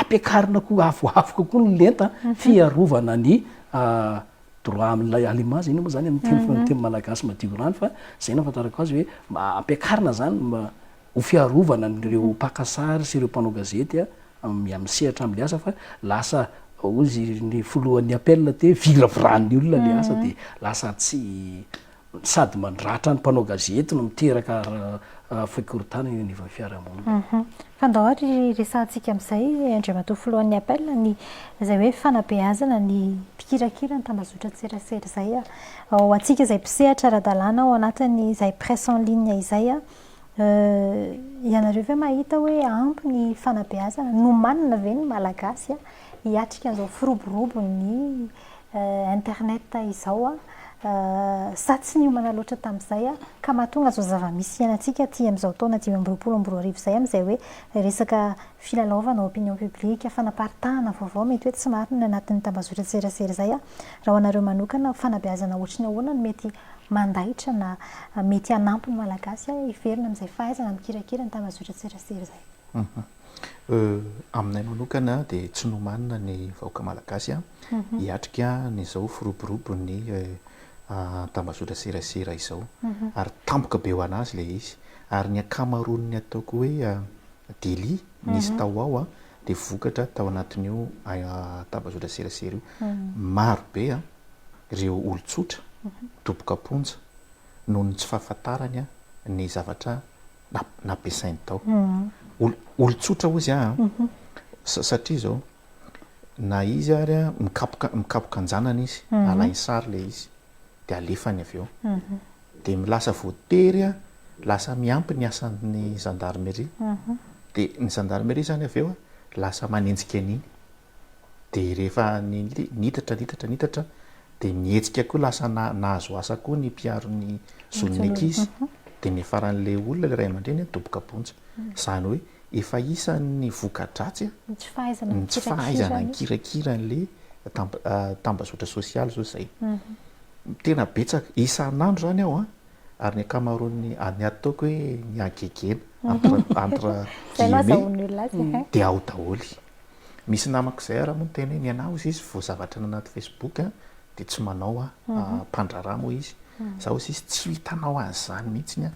ampiakarina koa avoavo kokoa ny lenta fiarovana ny ah, droit amin'ilay à l'image inona moa izany amin'ny teny mhm. teny malagasy madio rano fa izay nahafantarako azy hoe ampiakarina izany mba ho fiarovana an'ireo mpaka sary sy ireo mpanao gazety amin'ny amin'ny sehatra amin'ny asa fa lasa hozy ny filohan'ny APEL aty hoe viraviran'ny olona ilay asa dia lasa tsy sady mandratra ny mpanao gazety no miteraka fikorontanana eo anivon'ny fiarahamonina. Fa ndao ary resahantsika amin'izay Andriamatoa filohan'ny APEL ny izay hoe fanabeazana ny mpikirakira ny tambazotran-tserasera izay ho antsika izay mpisehatra ara-dalàna ao anatin'izay presse en ligne izay. Euh, ianareo ve mahita hoe ampy ny fanabeazana? Nomanina ve ny Malagasy hiatrika an'izao firoborobon'ny euh, internet izao a? Euh, sa tsy niomana loatra tamin'izay a? Ka mahatonga izao zava-misy iainantsika aty amin'izao taona dimy amby roapolo amby roa arivo izay amin'izay hoe resaka filalaovana ao opinion publique, fanaparitahana vaovao mety hoe tsy marina anatin'ny tambazotran-tserasera izay a? Raha ho anareo manokana, fanabeazana ohatry ny ahoana no mety mandaitra na mety hanampy ny Malagasy hiverina amin'izay fahaizana mikirakira ny tambazotran-tserasera izay. Euh, aminay manokana dia tsy nomanina ny vahoaka Malagasy hiatrika an'izao firoborobon'ny tambazotran-tserasera izao. Ary tampoka be ho an'azy ilay izy. Ary ny ankamaroan'ny ataoko hoe délit nisy tao ao dia vokatra tao anatin'io tambazotran-tserasera io. Maro be an! ireo olon-tsotra doboka am-ponja noho ny tsy fahafantarany ny zavatra nampiasainy tao. Olon-tsotra hoy izy aho satria izao, na izy ary mikapoka mikapoka an-janany izy, alainy sary ilay izy dia alefany avy eo. Dia lasa voatery, lasa miampy ny asan'ny zandarimeria. Dia ny zandarimeria izany avy eo lasa manenjika an'iny. dia rehefa nitatra nitatra nitatra dia ny hetsika koa lasa nahazo asa koa ny mpiaro ny zon'ny ankizy dia niafaran'ilay olona ilay ray aman-dreny hoe doboka bonja izany hoe efa isan'ny voka-dratsy ny tsy fahaizana nikirakira an'ilay tambazotra sosialy izao izay mhm. tena betsaka isan'andro izany aho an ary ny ankamaroan'ny any ataoko hoe ny agegena mhm. entre guillemets mhm. dia ao daholo Misy namako izay ary moa niteny hoe ny anah hozy izy vao zavatra any anaty Facebook dia tsy manao aho, mpandraharaha moa izy. Za hozy izy tsy hitanao an'izany mihitsy aho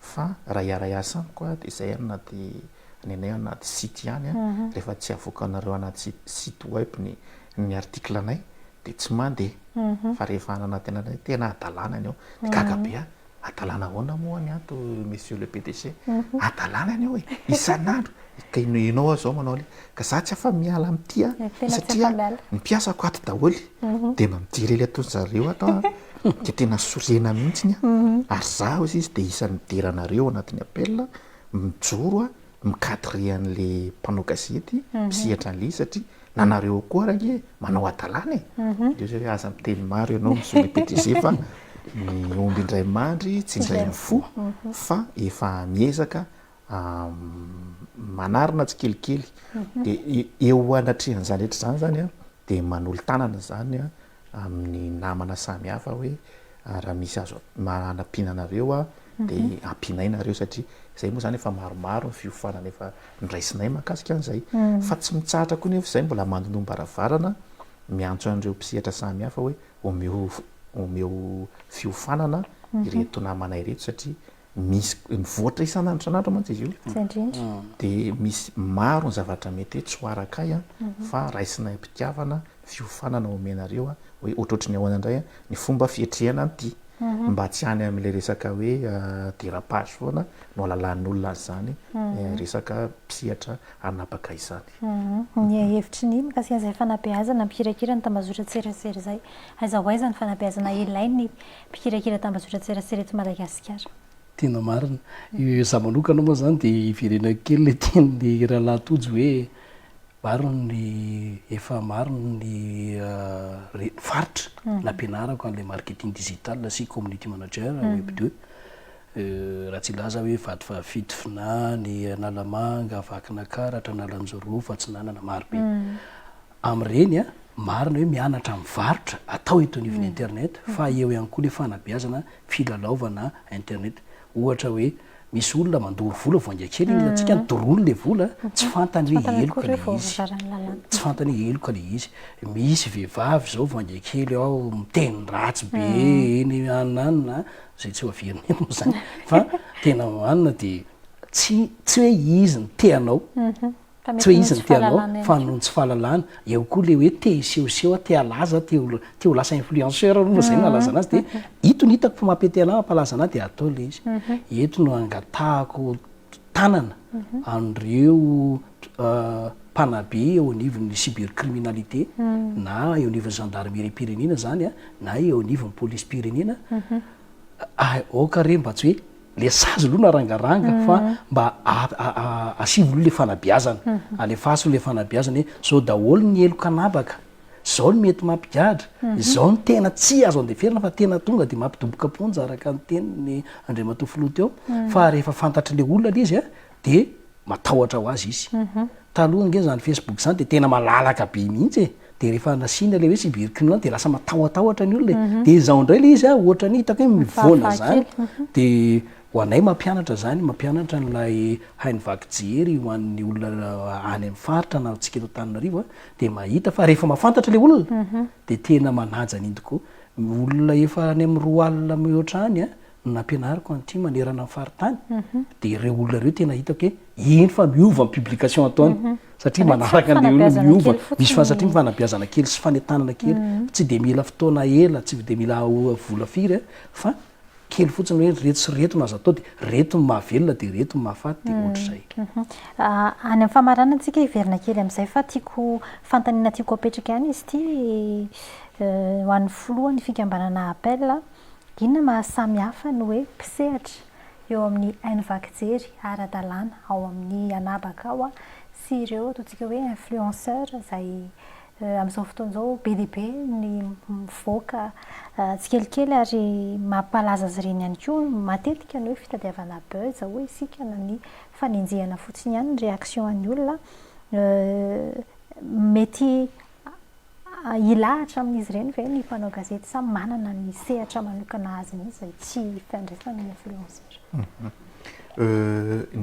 fa raha hiara-hiasa amiko dia izay any anaty, ny anay anaty site ihany an, rehefa tsy avoakanareo anaty site web ny ny article anay dia tsy mandeha. Fa rehefa any anaty anay tena hadalana ny ao. Dia gaga be aho, Adalana ahoana moa ny anto monsieur le PDG? Adalana ny eo e, isan'andro. Ka ianao aho izao manao an'io. Ka za tsy afa miala amin'ity an, satria ny mpiasako ato daholo dia mba mijery ilay ataon-dry zareo ato an, dia tena sorena mihitsy an, ary za hozy izy dia isan'ny midera anareo ao anatin'ny appel, mijoro an, mi-cadrer an'ilay mpanao gazety, misehatra an'ilay izy satria Na nareo koa ary ange manao hadalana e! Dia hoy izy hoe, aza miteny maro ianao Monsieur le PDG fa ny omby indray mandry tsy indray mifoha fa efa miezaka manarina tsikelikely dia eo anatrehan'izany rehetra izany izany dia manolo-tanana izany amin'ny namana samy hafa hoe raha misy azo hanampiana anareo aho dia ampianay nareo satria izay moa izany efa maromaro ny fiofanana efa niraisinay mahakasika an'izay fa tsy mitsahatra koa nefa izay mbola mandonoam-baravarana miantso an'ireo mpisehatra samy hafa hoe omeo omeo fiofanana ireto namana ireto satria Misy mivoatra isan'andro isan'andro mantsy izy io. Tsy indrindra. Dia misy maro ny zavatra mety hoe tsy ho araka ahy fa raisinay am-pitiavana, fiofanana omenareo hoe ohatrohatry ny ahoana indray ny fomba fiatrehana an'ity. Mba tsy any amin'ilay resaka hoe dérapage foana no alalahan'olona azy izany, resaka mpisehatra hanapaka izany. Ny hevitry ny mikasika izay fanabeazana mikirakira ny tambazotran-tserasera izay. Aiza ho aiza ny fanabeazana ilain'ny mpikirakira tambajotran-tserasera eto Madagasikara. Tena marina. Izaho manokana moa izany dia hiverenako kely ilay tenin'ny rahalahy Tojo hoe marina ny efa marina ny faritra nampianarako an'ilay marketing digital sy community manager ao web deux. Raha tsy hilaza aho hoe vady fahafito, Finany, Analamanga, Vakinankaratra, Analanjirofo, Atsinanana, marobe. amin'ireny a, marina hoe mianatra mivarotra atao eto anivon'ny internet fa eo ihany koa ilay fanabeazana filalaovana internet ohatra hoe misy olona mandoro vola vao hainga kely iny hilantsika any doroany ilay vola tsy fantany hoe heloka ilay izy tsy fantany hoe heloka ilay izy misy vehivavy izao vao hainga kely ao miteny ratsy be eny anina anina izay tsy hoavian'ny eny moa izany fa tena anina dia tsy tsy hoe izy ny te hanao Tsy hoe izy no te hanao fa noho ny tsy fahalalana. Eo koa ilay hoe te hisehoseho aho, te halaza aho, te ho te ho lasa influenceur aho, moa izay no nalazana azy. Dia ito no hitako fa mampete anà, mampalaza anà dia atao ilay izy. Eto no angatahako tanana an'ireo mpanabe eo anivon'ny cybercriminalité na eo anivon'ny zandarimeriam-pirenena izany na eo anivon'ny polisim-pirenena, aoka re mba tsy hoe. le sazy aloha narangaranga fa mba asivo aloha le fanabeazana alefaso le fanabeazana hoe zao daholo ny heloka anabaka zao ny mety mampigadra zao ny tena tsy azo andeferina fa tena tonga de mampidoboka am-ponja araka ny teniny Andriamatoa Filoha teo fa rehefa fantatry le olona le izy a dia matahotra ho azy izy. Taloha ange izany Facebook izany dia tena malalaka be mihitsy e. Dia rehefa nasiana ilay hoe cybercriminel dia lasa matahotahotra ny olona e. Dia izao indray ilay izy a, ohatra ny hitako hoe mivoana izany, dia ho anay mampianatra izany, mampianatra an'ilay haino vaky jery ho an'ny olona any amin'ny faritra na antsika eto Antananarivo a, dia mahita fa rehefa mahafantatra ilay olona dia tena manaja an'iny tokoa. Olona efa any amin'ny roa alina mihoatra any a, no nampianariko an'ity manerana ny faritany dia ireo olona ireo tena hitako hoe eny fa miova ny publication ataony mhm. satria manaraka an'le olona miova misy fa satria mifanabeazana kely sy fanentanana kely mhm. tsy dia mila fotoana ela tsy dia mila vola firy eh, fa kely fotsiny hoe reto sy reto no aza atao dia reto ny mahavelona dia reto ny mahafaty dia mhm. ohatr'izay ah, any amin'ny famarana antsika hiverina kely amin'izay fa tiako fantanina tiako apetraka ihany izy ity eh, ho an'ny filohan'ny fikambanana appel Inona mahasamy hafa ny hoe mpisehatra eo amin'ny haino vaky jery ara-dalàna ao amin'ny anabaka ao sy ireo ataontsika hoe influenceurs izay amin'izao fotoana izao be dia be ny mivoaka tsikelikely ary mampalaza azy ireny ihany koa matetika ny hoe fitadiavana buzz hoy isika na ny fanenjehana fotsiny ihany ny réaction an'ny olona mety Hilahatra amin'izy ireny ve ny mpanao gazety sa manana ny sehatra manokana azy mihitsy izay tsy ifandraisan'ny influenceur?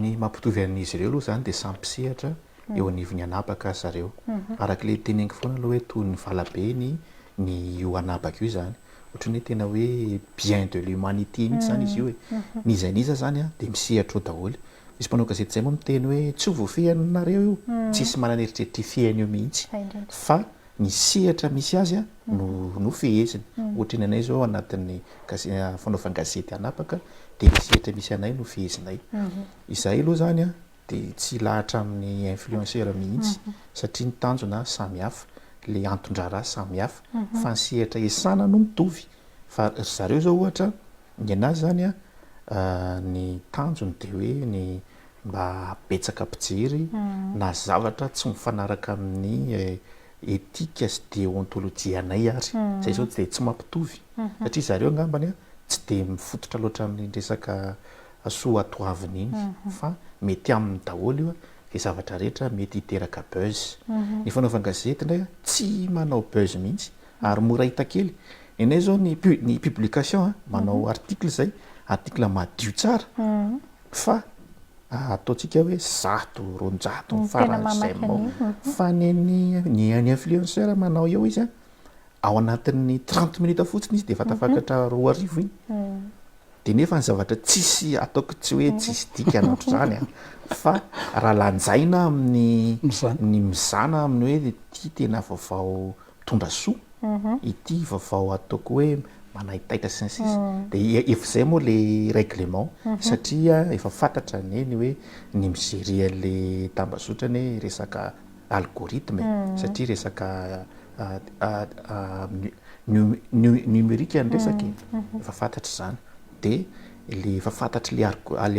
Ny mampitovy an'izy ireo aloha izany dia samy mpisehatra eo anivon'ny anabaka ry zareo. Araka ilay teneniko foana aloha hoe toy ny valabeny ny io anabaka io izany. Ohatran'ny hoe tena hoe bien de l'humanité mihitsy izany izy io e. N'iza n'iza izany dia misehatra eo daholo. Misy mpanao gazety izay moa miteny hoe tsy ho voafehy anareo io, tsisy manana eritreritra hifehiny eo mihitsy fa ny sehatra misy azy no no feheziny. Ohatra ny anay izao anatin'ny fanaovan-gazety hanapaka dia ny sehatra misy anay no fehezinay. Izahay aloha izany dia tsy hilahatra amin'ny influenceur mihitsy satria ny tanjona samy hafa, ilay anton-draharaha samy hafa fa ny sehatra iasana no mitovy fa ry zareo izao ohatra Ny anah zany a, ny tanjony dia hoe ny mba habetsaka mpijery na zavatra tsy mifanaraka amin'ny etika sy deontolojianay ary. Izay izao dia tsy mampitovy satria zareo angambany tsy dia mifototra loatra amin'iny resaka soatoavina iny fa mety aminy daholo io izay zavatra rehetra mety hiteraka buzz. Ny fanaovan-gazety indray tsy manao buzz mihitsy Ary mora hita kely. Enay zao ny ny publication a, manao article zay, article madio tsara fa ataontsika hoe zato, roanjato ny faran'izay mao. Fa ny an'ny ny an'ny influenceur manao eo izy a, ao anatin'ny trente minutes fotsiny izy defa tafakatra roa arivo iny. De nefa ny zavatra tsisy ataoko tsy hoe tsisy dikany ohatr'izany a, fa raha lanjaina amin'ny ny mizana amin'ny hoe ity tena vaovao mitondra soa ity vaovao ataoko hoe manaitaitra sy ny sisa dia efa izay moa le règlement satria efa fantatra neny hoe ny mi-gérer an'le tambazotra anie resaka algorithme satria resaka numérique ny resaka e, efa fantatra izany dia le efa fantatr'le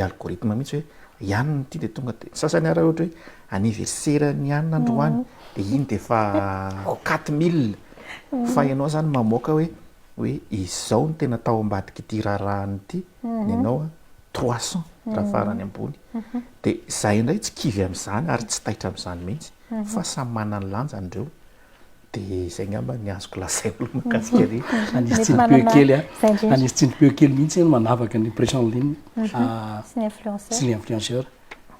algorithme mihitsy hoe i anona ity dia tonga dia ny sasany ary ohatra hoe anniversaire ny an androany dia iny dia efa quatre mille fa ianao izany mamoaka hoe hoe izao no tena tao ambadik'ity raharahana ity ny anao an trois cent raha farany ambony dia izahay indray tsy kivy amin'izany ary tsy taitra amin'izany mihitsy fa samy manana ny lanjany ireo dia izay angamba ny azoko lazaina aloha mahakasika an'io Anisy Tsinimpihoe kely an Anisy Tsinimpihoe kely mihitsy no manavaka ny presse en ligne sy ny influenceur sy ny influenceur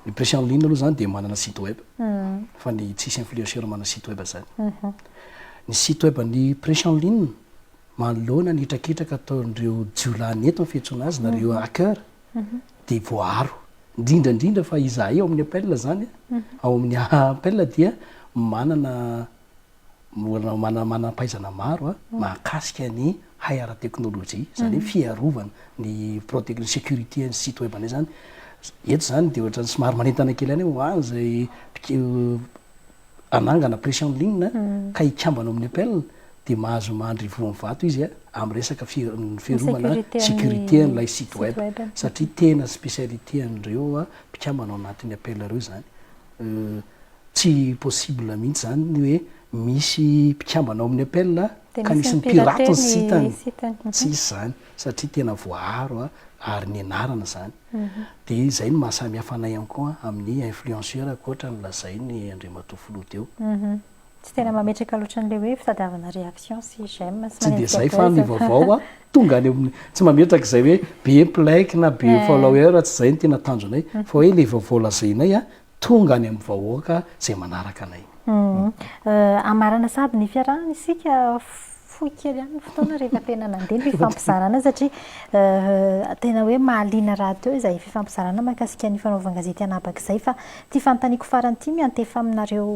Ny presse en ligne aloha zany dia manana site web fa ny tsisy influenceur manana site web zany. Ny site web ny presse en ligne manoloana ny hetraketraka ataon'ireo jiolahy ny eto ny fiantsoana azy na ireo hacker dia voaaro. Indrindra indrindra fa izahay ao amin'ny APEL zany ao amin'ny APEL dia manana Mbola manana manam-pahaizana maro mahakasika ny hay ara-teknolojia, izany hoe fiarovana, ny protect, ny sécurité an'ny site web anay izany. Eto izany dia ohatran'ny somary manentana kely ihany hoe ho an' izay hanangana pression en ligne ka hikambana ao amin'ny Apple dia mahazo mandry voan'ny vato izy amin'ny resaka fiarovana sécurité an'ilay site web satria tena spécialité an'ireo mpikambana ao anatin'ny Apple ireo izany. Tsy possible mihitsy izany ny hoe misy mpikambana ao amin'ny APEL ka nisy nipiraty ny sitany. Tsisy izany satria tena voaaro ary nianarana izany. Dia izay no maha samy hafa anay ihany koa amin'ny influenceur ankoatra ny lazainy Andriamatoa Filoha teo. Tsy tena mametraka loatra an'ilay hoe fitadiavana réaction sy j'aime sy manenjika buzz. Tsy dia izay fa ny vaovao tonga any amin'ny, tsy mametraka izay hoe be mpilaike na be follower, tsy izay no tena tanjonay fa hoe ilay vaovao lazainay tonga any amin'ny vahoaka izay manaraka anay. Hamarana sahady ny fiarahana isika fohy kely ihany ny fotoana rehefa tena nandeha ny fifampizarana satria tena hoe mahaliana rahateo izay fifampizarana mahakasika ny fanaovan-gazety anabak'izay fa ity fanontaniako farany ity miantefa aminareo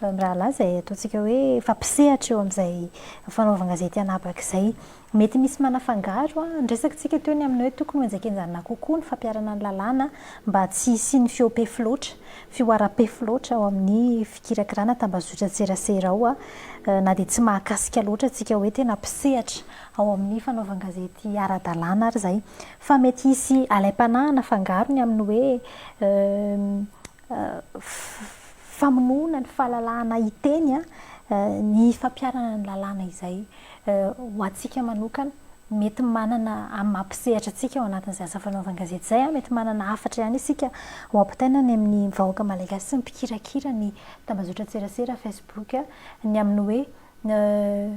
mirahalahy izay ataontsika hoe fampisehatra eo amin'izay fanaovan-gazety anabak'izay. Mety misy manafangaro an! Ny resaka tsika teo ny amin'ny hoe tokony ho enjakenjanina kokoa ny fampiharana ny lalàna mba tsy hisian'ny fihoam-pefy loatra, fihoaram-pefy loatra ao amin'ny fikirakirana tambazotran-tserasera ao na dia tsy mahakasika loatra antsika hoe tena mpisehatra ao amin'ny fanaovan-gazety ara-dalàna ary izay fa mety hisy alaim-panahy hanafangaro ny amin'ny hoe famonoana ny fahalalahana hiteny ny fampiharana ny lalàna izay ho antsika manokana mety manana amin'ny maha mpisehatra antsika ao anatin'izay asa fanaovan-gazety izay mety manana hafatra ihany isika ho ampitaina any amin'ny vahoaka malagasy sy ny mpikirakira ny tambazotran-tserasera facebook ny amin'ny hoe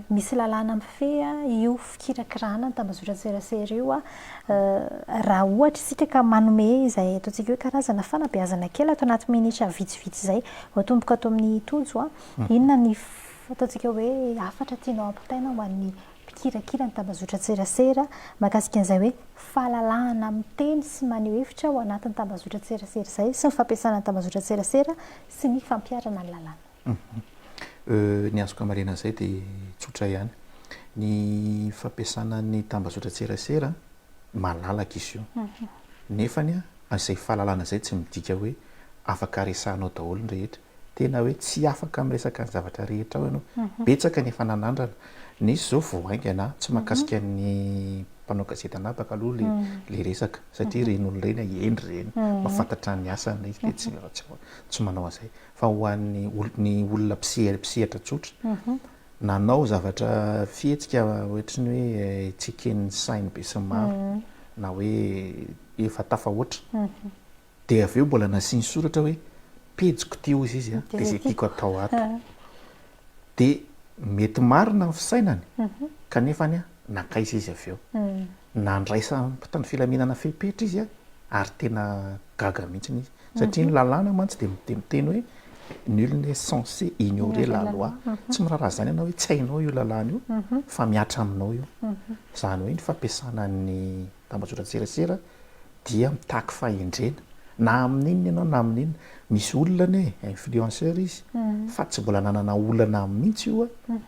Misy lalàna mifehy io fikirakirana ny tambazotran-tserasera io raha ohatra isika ka manome izay ataontsika hoe karazana fanabeazana kely ato anaty minitra vitsivitsy izay, atomboka ato amin'i Tojo, inona ny ataontsika hoe hafatra tianao hampitaina ho an'ny mpikirakira ny tambazotran-tserasera mahakasika an'izay hoe fahalalahana miteny sy maneho hevitra ao anatin'ny tambazotran-tserasera izay sy ny fampiasana ny tambazotran-tserasera sy ny fampiharana ny lalàna. Ny azoko hamaliana an'izay dia tsotra ihany. Ny fampiasana ny tambazotran-tserasera, malalaka izy io. Nefa izay fahalalana izay tsy midika hoe afaka resahanao daholo ny rehetra. Tena hoe tsy afaka miresaka ny zavatra rehetra ao ianao. Betsaka ny efa nanandrana. Nisy izao vao haingana, tsy mahakasika ny mpanao gazety anabaka aloha ilay resaka, satria ireny olona ireny hendry ireny, mahafantatra ny asany, dia tsy manao an'izay. Fa ho an'ny ny olona mpisehatra mpisehatra tsotra, nanao zavatra fihetsika ohatry ny hoe tsy eken'ny sain'ny besinimaro na hoe efa tafahoatra, dia avy eo mbola nasiany soratra hoe pejiko ity hozy izy a, dia izay tiako atao ato. dia mety marina ny fisainany kanefa anie nankaiza izy avy eo? Nandraisan'ny mpitandro filaminana fepetra izy ary tena gaga mihitsy izy satria ny lalàna mantsy dia dia miteny hoe nul n'est censé ignorer la loi, tsy miraharaha izany ianao hoe tsy hainao io lalàna io fa mihatra aminao io, izany hoe ny fampiasana ny. Tambajotran-tserasera dia mitaky fahendrena na amin'inona ianao na amin'inona. Misy olona anie influenceur izy fa tsy mbola nanana olana aminy mihitsy io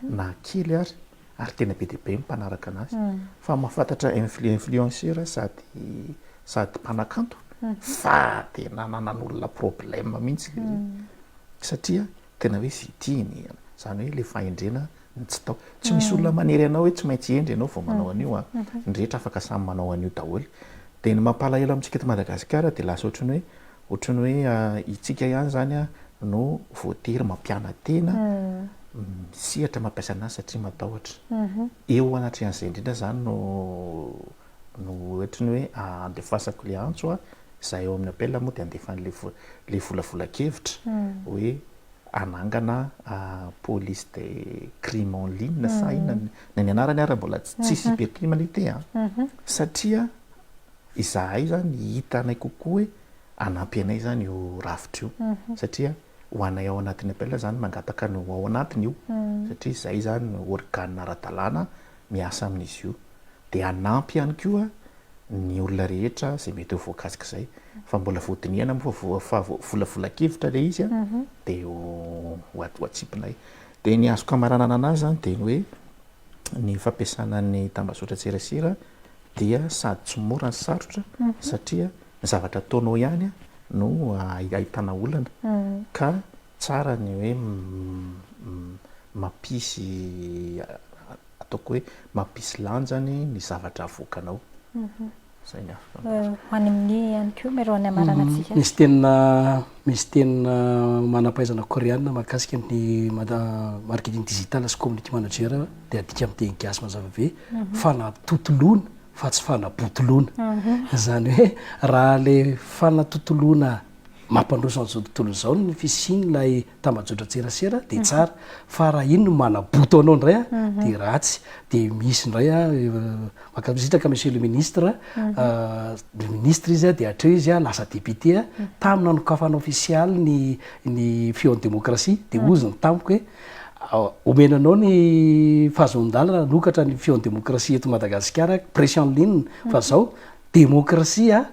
na kely ary, ary tena be dia be ny mpanaraka anazy. Fa mahafantatra influenceur sady sady mpanakanto fa tena nanan'olona problème mihitsy satria Tena hoe fitia ny an, izany hoe ilay fahendrena ny tsy tao. Tsy misy olona manery anao hoe tsy maintsy hendry ianao vao manao an'io an, ny rehetra afaka samy manao an'io daholo. Dia ny mampalahelo amintsika eto Madagasikara dia lasa ohatran'ny hoe, ohatran'ny hoe itsika ihany izany an no voatery mampiana-tena misehatra mampiasa an'asa satria matahotra. Eo anatrehan'izay indrindra izany no. no oetriny hoe andefasako le antso a, za eo amin'ny appel moa de andefa anle le volavolan-kevitra hoe anangana police de crime en ligne sa inona ny ny anarany ary mbola tsy cybercrime anie ity a, satria izahay zany hita anay kokoa hoe hanampy anay zany io rafitra io satria ho anay ao anatin'ny appel zany mangataka ny ho ao anatiny io satria zay zany no organe ara-dalàna miasa amin'izy io. dia hanampy ihany koa ny olona rehetra izay mety ho voakasik'izay fa mbola voadinihana moa fa volavolan-kevitra ilay izy dia ho atsipinay. Dia ny azoko hamaranana an'azy izany dia ny hoe ny fampiasana ny tambazotran-tserasera dia sady tsy mora no sarotra satria ny zavatra ataonao ihany no ahitana olana ka tsara ny hoe mampisy ataoko hoe mampisy lanjany ny zavatra avoakanao. Zay ny afaka ny teny. Ho any amin'ny ihany koa Mero any Ambaranatsika. Misy teny misy teny manam-pahaizana Koreana mahakasika ny marketing digital sy community manager dia adika amin'ny teny gasy mazava be fanatotoloana fa tsy fanabotoloana. Izany hoe raha ilay fanatotoloana mampandroso an'izao tontolo izao ny fisian'ilay tambajotran-tserasera dia tsara fa raha iny no manaboto anao indray a dia ratsy dia misy indray a mankasitraka monsieur le ministre le ministre izy a dia hatreo izy a lasa député a tamin'ny nanokafana ofisialy ny ny fihaon'ny démocratie dia hozy ny tamiko hoe omena anao ny fahazoan-dalana hanokatra ny fihaon'ny démocratie eto Madagasikara pression ligne fa zao Demokrasia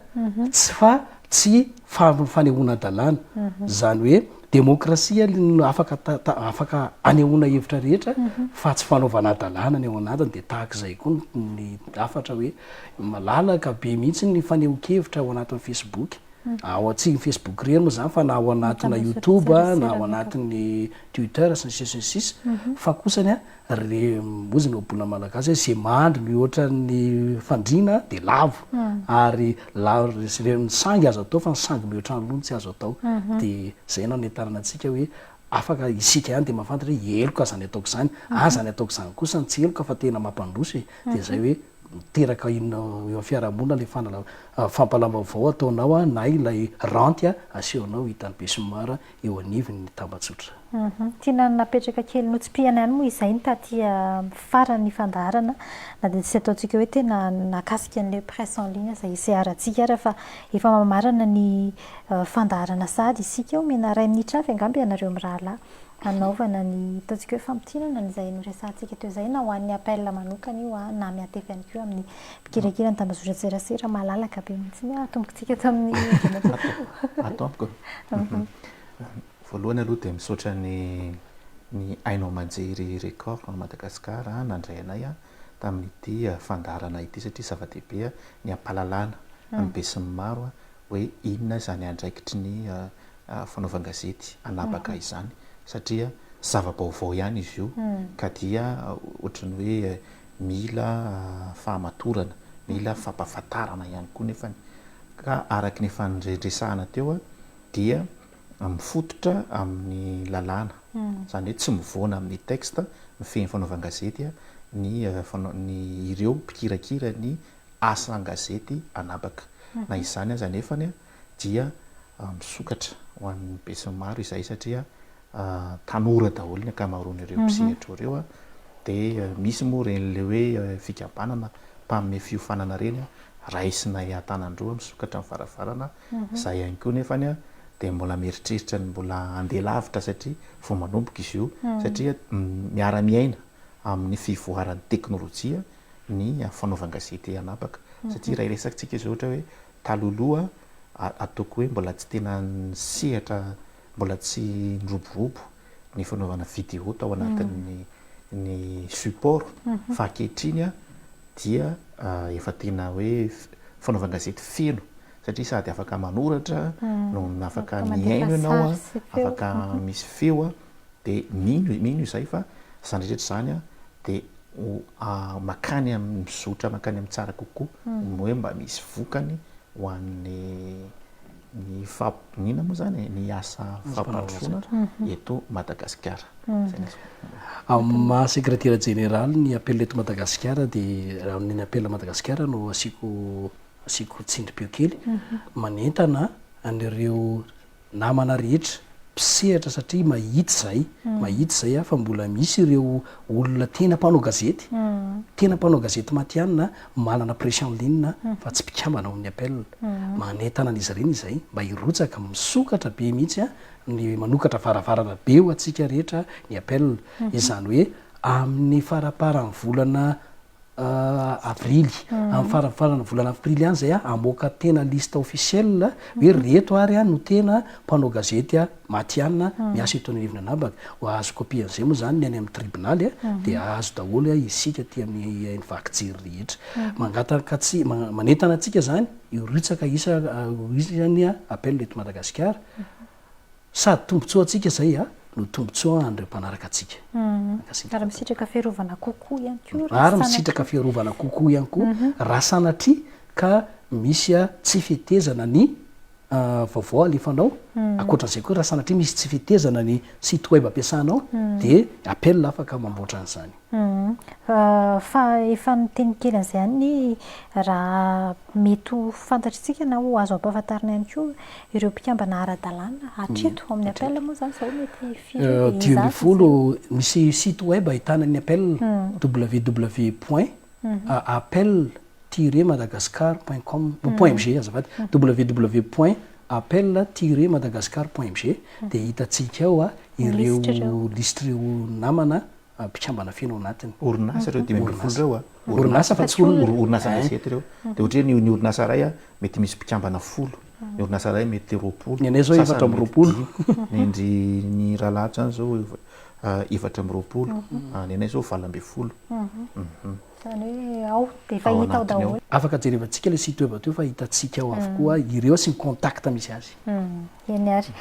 tsy fa tsy fanehoana-dalàna. Izany hoe demokrasia no afaka afaka anehoana hevitra rehetra fa tsy fanaovana-dalàna ny ao anatiny. Dia tahaka izay koa ny hafatra hoe malalaka be mihitsy ny fanehoan-kevitra ao anatin'ny Facebook. Ao tsy ny Facebook irery moa izany fa na ao anatinà Youtube, na ao anatin'ny Twitter sy ny sisa sy ny sisa. Fa kosany Re mozina o bona malagasy hoe ze mandry mihoatra ny fandriana de lavo ary lavo re ze ny sangy azo atao fa ny sangy mihoatra ny lony tsy azo atao de zay no hanentanana antsika hoe afaka isika ihany de mahafantatra hoe heloka zany ataoko zany a zany ataoko zany kosa no tsy heloka fa tena mampandroso e de zay hoe miteraka inona eo amin'ny fiarahamonina le fanala- fampahalalam-baovao ataonao na ilay ranty asehonao hitan'ny besinimaro eo anivon' ny tambajotra. Tiana napetraka kely notsipihana ihany moa izay taty amin'ny faran' ny fandaharana na dia tsy ataontsika hoe tena nakasika an'ilay presse en ligne izay hiseharantsika ary fa efa mamarana ny fandaharana sahady isika eo, omena iray minitra avy angamba ianareo mirahalahy hanaovana ny ataontsika hoe famintinana an'izay noresahantsika teo izay na ho an'ny appel manokana io na miantefa ihany koa amin'ny Mikirakira ny tambazotran-tserasera malalaka be mihitsy ny atombokantsika ato amin'ny Andriamatoa. Ato amiko. Voalohany aloha dia misaotra ny ny haino aman-jery Record à Madagascar nandray anay tamin'ity fandaharana ity satria zava-dehibe ny hampahalalana ny besinimaro hoe inona izany andraikitry ny fanaovan-gazety anabaka izany satria zava-baovao ihany izy io ka dia ohatran'ny hoe Mila fahamatorana, mila fampahafantarana ihany koa nefany. Ka araka ny efa nireharesahana teo dia mifototra amin'ny lalàna. Izany hoe tsy mivoana amin'ny texte mifehy ny fanaovan-gazety ny ny ireo mpikirakira ny asa an-gazety an'habaka. Na izany aza anefany dia misokatra ho an'ny besinimaro izay satria tanora daholo ny ankamaroan'ireo mpisehatra ireo dia misy moa ireny ilay hoe fikambanana mpanome fiofanana ireny raisinay an-tanan-droa misokatra ny varavarana, izay ihany koa nefa dia mbola mieritreritra ny mbola handeha lavitra satria vao manomboka izy io satria miara-miaina amin'ny fivoaran'ny teknolojia ny fanaovan-gazety anabaka satria raha hiresatsika izao ohatra hoe Taloloha ataoko hoe mbola tsy tena nisehatra, mbola tsy niroborobo ny fanaovana vidéo tao anatin'ny ny support fa ankehitriny dia efa tena hoe fanaovan-gazety feno satria sady afaka manoratra no afaka mihaino ianao, afaka misy feo. dia mino mino izahay fa izany rehetra izany dia ho makany amin'ny mizotra makany amin'ny tsara kokoa, ny hoe mba misy vokany ho an'ny ny inona moa izany e? ny asa fampandrosoana eto Madagasikara. Izay no azoko ambara. Amin'ny maha sekretera jeneraly ny apel eto Madagasikara dia raha ny apel Madagasikara no asiako asiako tsindrim-peo kely, manentana an'ireo. namana rehetra mpisehatra satria mahita izay mahita izay aho fa mbola misy ireo olona tena mpanao gazety tena mpanao gazety matihanina manana presse en ligne fa tsy mpikambana ao amin'ny appel manentana an'izy ireny izay mba hirotsaka misokatra be mihitsy ny manokatra varavarana be ho antsika rehetra ny appel izany hoe amin'ny faraparan'ny volana avrily, amin'ny faran'ny faran'ny volana aprily any izay hamoaka tena liste officielle hoe reto ary no tena mpanao gazety matihanina miasa eto Anivon'ny Anabaka. Hahazo copie an'izay moa izany ny any amin'ny tribonaly dia hahazo daholo isika aty amin'ny vaky jery rehetra. Mangataka, manentana antsika izany hirotsaka isa, ho isan'ny appel eto Madagasikara. Sady tombontsoa antsika izay a, no tombontsoa an'ireo mpanaraka antsika. Mankasitraka. Ary misitraka fiarovana kokoa ihany koa raha Ary misitraka fiarovana kokoa ihany koa raha sanatria ka misy tsy fetezana ny vaovao alefanao, ankoatran'izay koa raha sanatria misy tsy fetezana ny site web ampiasanao dia appel afaka mamboatra an'izany. Fa efa niteny kely an'izay ihany ny raha mety ho fantatr'isika na ho azo ampahafantarina ihany koa ireo mpikambana ara-dalàna hatreto. Amin'ny appel moa izany izao mety firy dia hizaha. Dimy ambin'ny folo, misy site web ahitana ny appel, www point appel tiret madagascar point com, point mg azafady, www point appel tiret madagascar point mg dia hitantsika ao ireo lisitr'ireo namana mpikambana feno ao anatiny. Orinasa ireo dimy ambin'ny folo ireo a. Orinasa fa tsy olona. Orinasa gazety ireo. Dia ohatra hoe ny orinasa iray a, mety misy mpikambana folo. Ny orinasa iray mety roapolo. Ny anay izao efatra amby roapolo. Ny an-dry ny Ralahady izany izao efatra amby roapolo. Ny anay izao valo ambin'ny folo. Izany hoe ao dia efa hita ao daholo. Afaka jerevantsika ilay site web teo fa hitantsika ao avokoa ireo sy ny contact misy azy. Eny ary.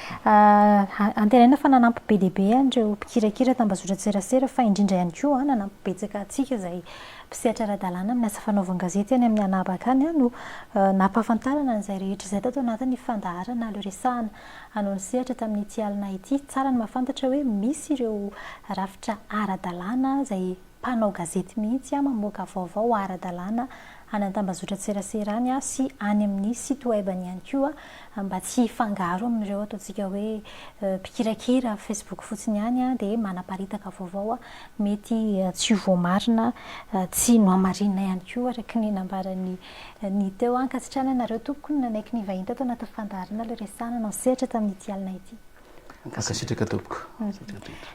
Antenaina fa nanampy be dia be an'ireo mpikirakira tambazotran-tserasera fa indrindra ihany koa nanampy betsaka antsika izay mpisehatra ara-dalàna amin'ny asa fanaovan-gazety any amin'ny anabaka any no nampahafantarana an'izay rehetra izay tato anatin'ny fandaharana aleo resahana hanao ny sehatra tamin'ity alina ity. Tsara ny mahafantatra hoe misy ireo rafitra ara-dalàna izay Mpanao gazety mihitsy aho mamoaka vaovao ara-dalàna any an-tambazotran-tseraserany aho sy any amin'ny site web-ny ihany koa mba tsy hifangaro amin'ireo ataontsika hoe mpikirakira facebook fotsiny ihany aho dia manaparitaka vaovao mety tsy ho voamarina tsy nohamarinina ihany koa araka ny nambaran'i Ny teo ankasitrahana anareo tompoko no nanaiky nivahiny tato anatin'ny fandaharana ilay resahana nantsehatra tamin'ity alina ity. Mankasitraka tompoko.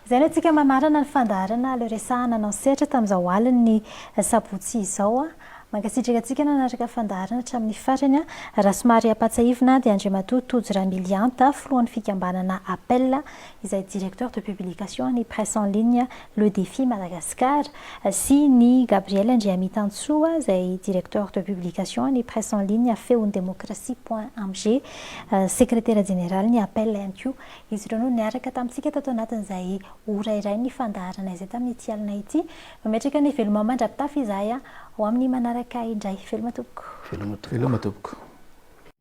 Izay no antsika mamarana ny fandaharana aleo resahana anao sehatra tamin'izao alin'ny sabotsy izao. Mankasitraka antsika nanaraka fandaharana hatramin'ny farany. Raha somary ampatsahivina dia Andriamatoa Tojo Ramilianta, filohan'ny fikambanana Apel, izay directeur de publication an'ny presse en ligne Le Défi Madagascar, sy ny Gabriel Andriamitantsoa izay Directeur de Publication ny Presse en ligne Feon'ny Demokrasia point amg, Sekretera Jeneralin'ny Apel ihany koa. Izy ireo no niaraka tamintsika tato anatin'izay ora iray nifandaharana izay tamin'ity alina ity. Mametraka ny veloma mandra-pitafy izahay ho amin'ny manaraka indray. Veloma tompoko. Veloma tompoko.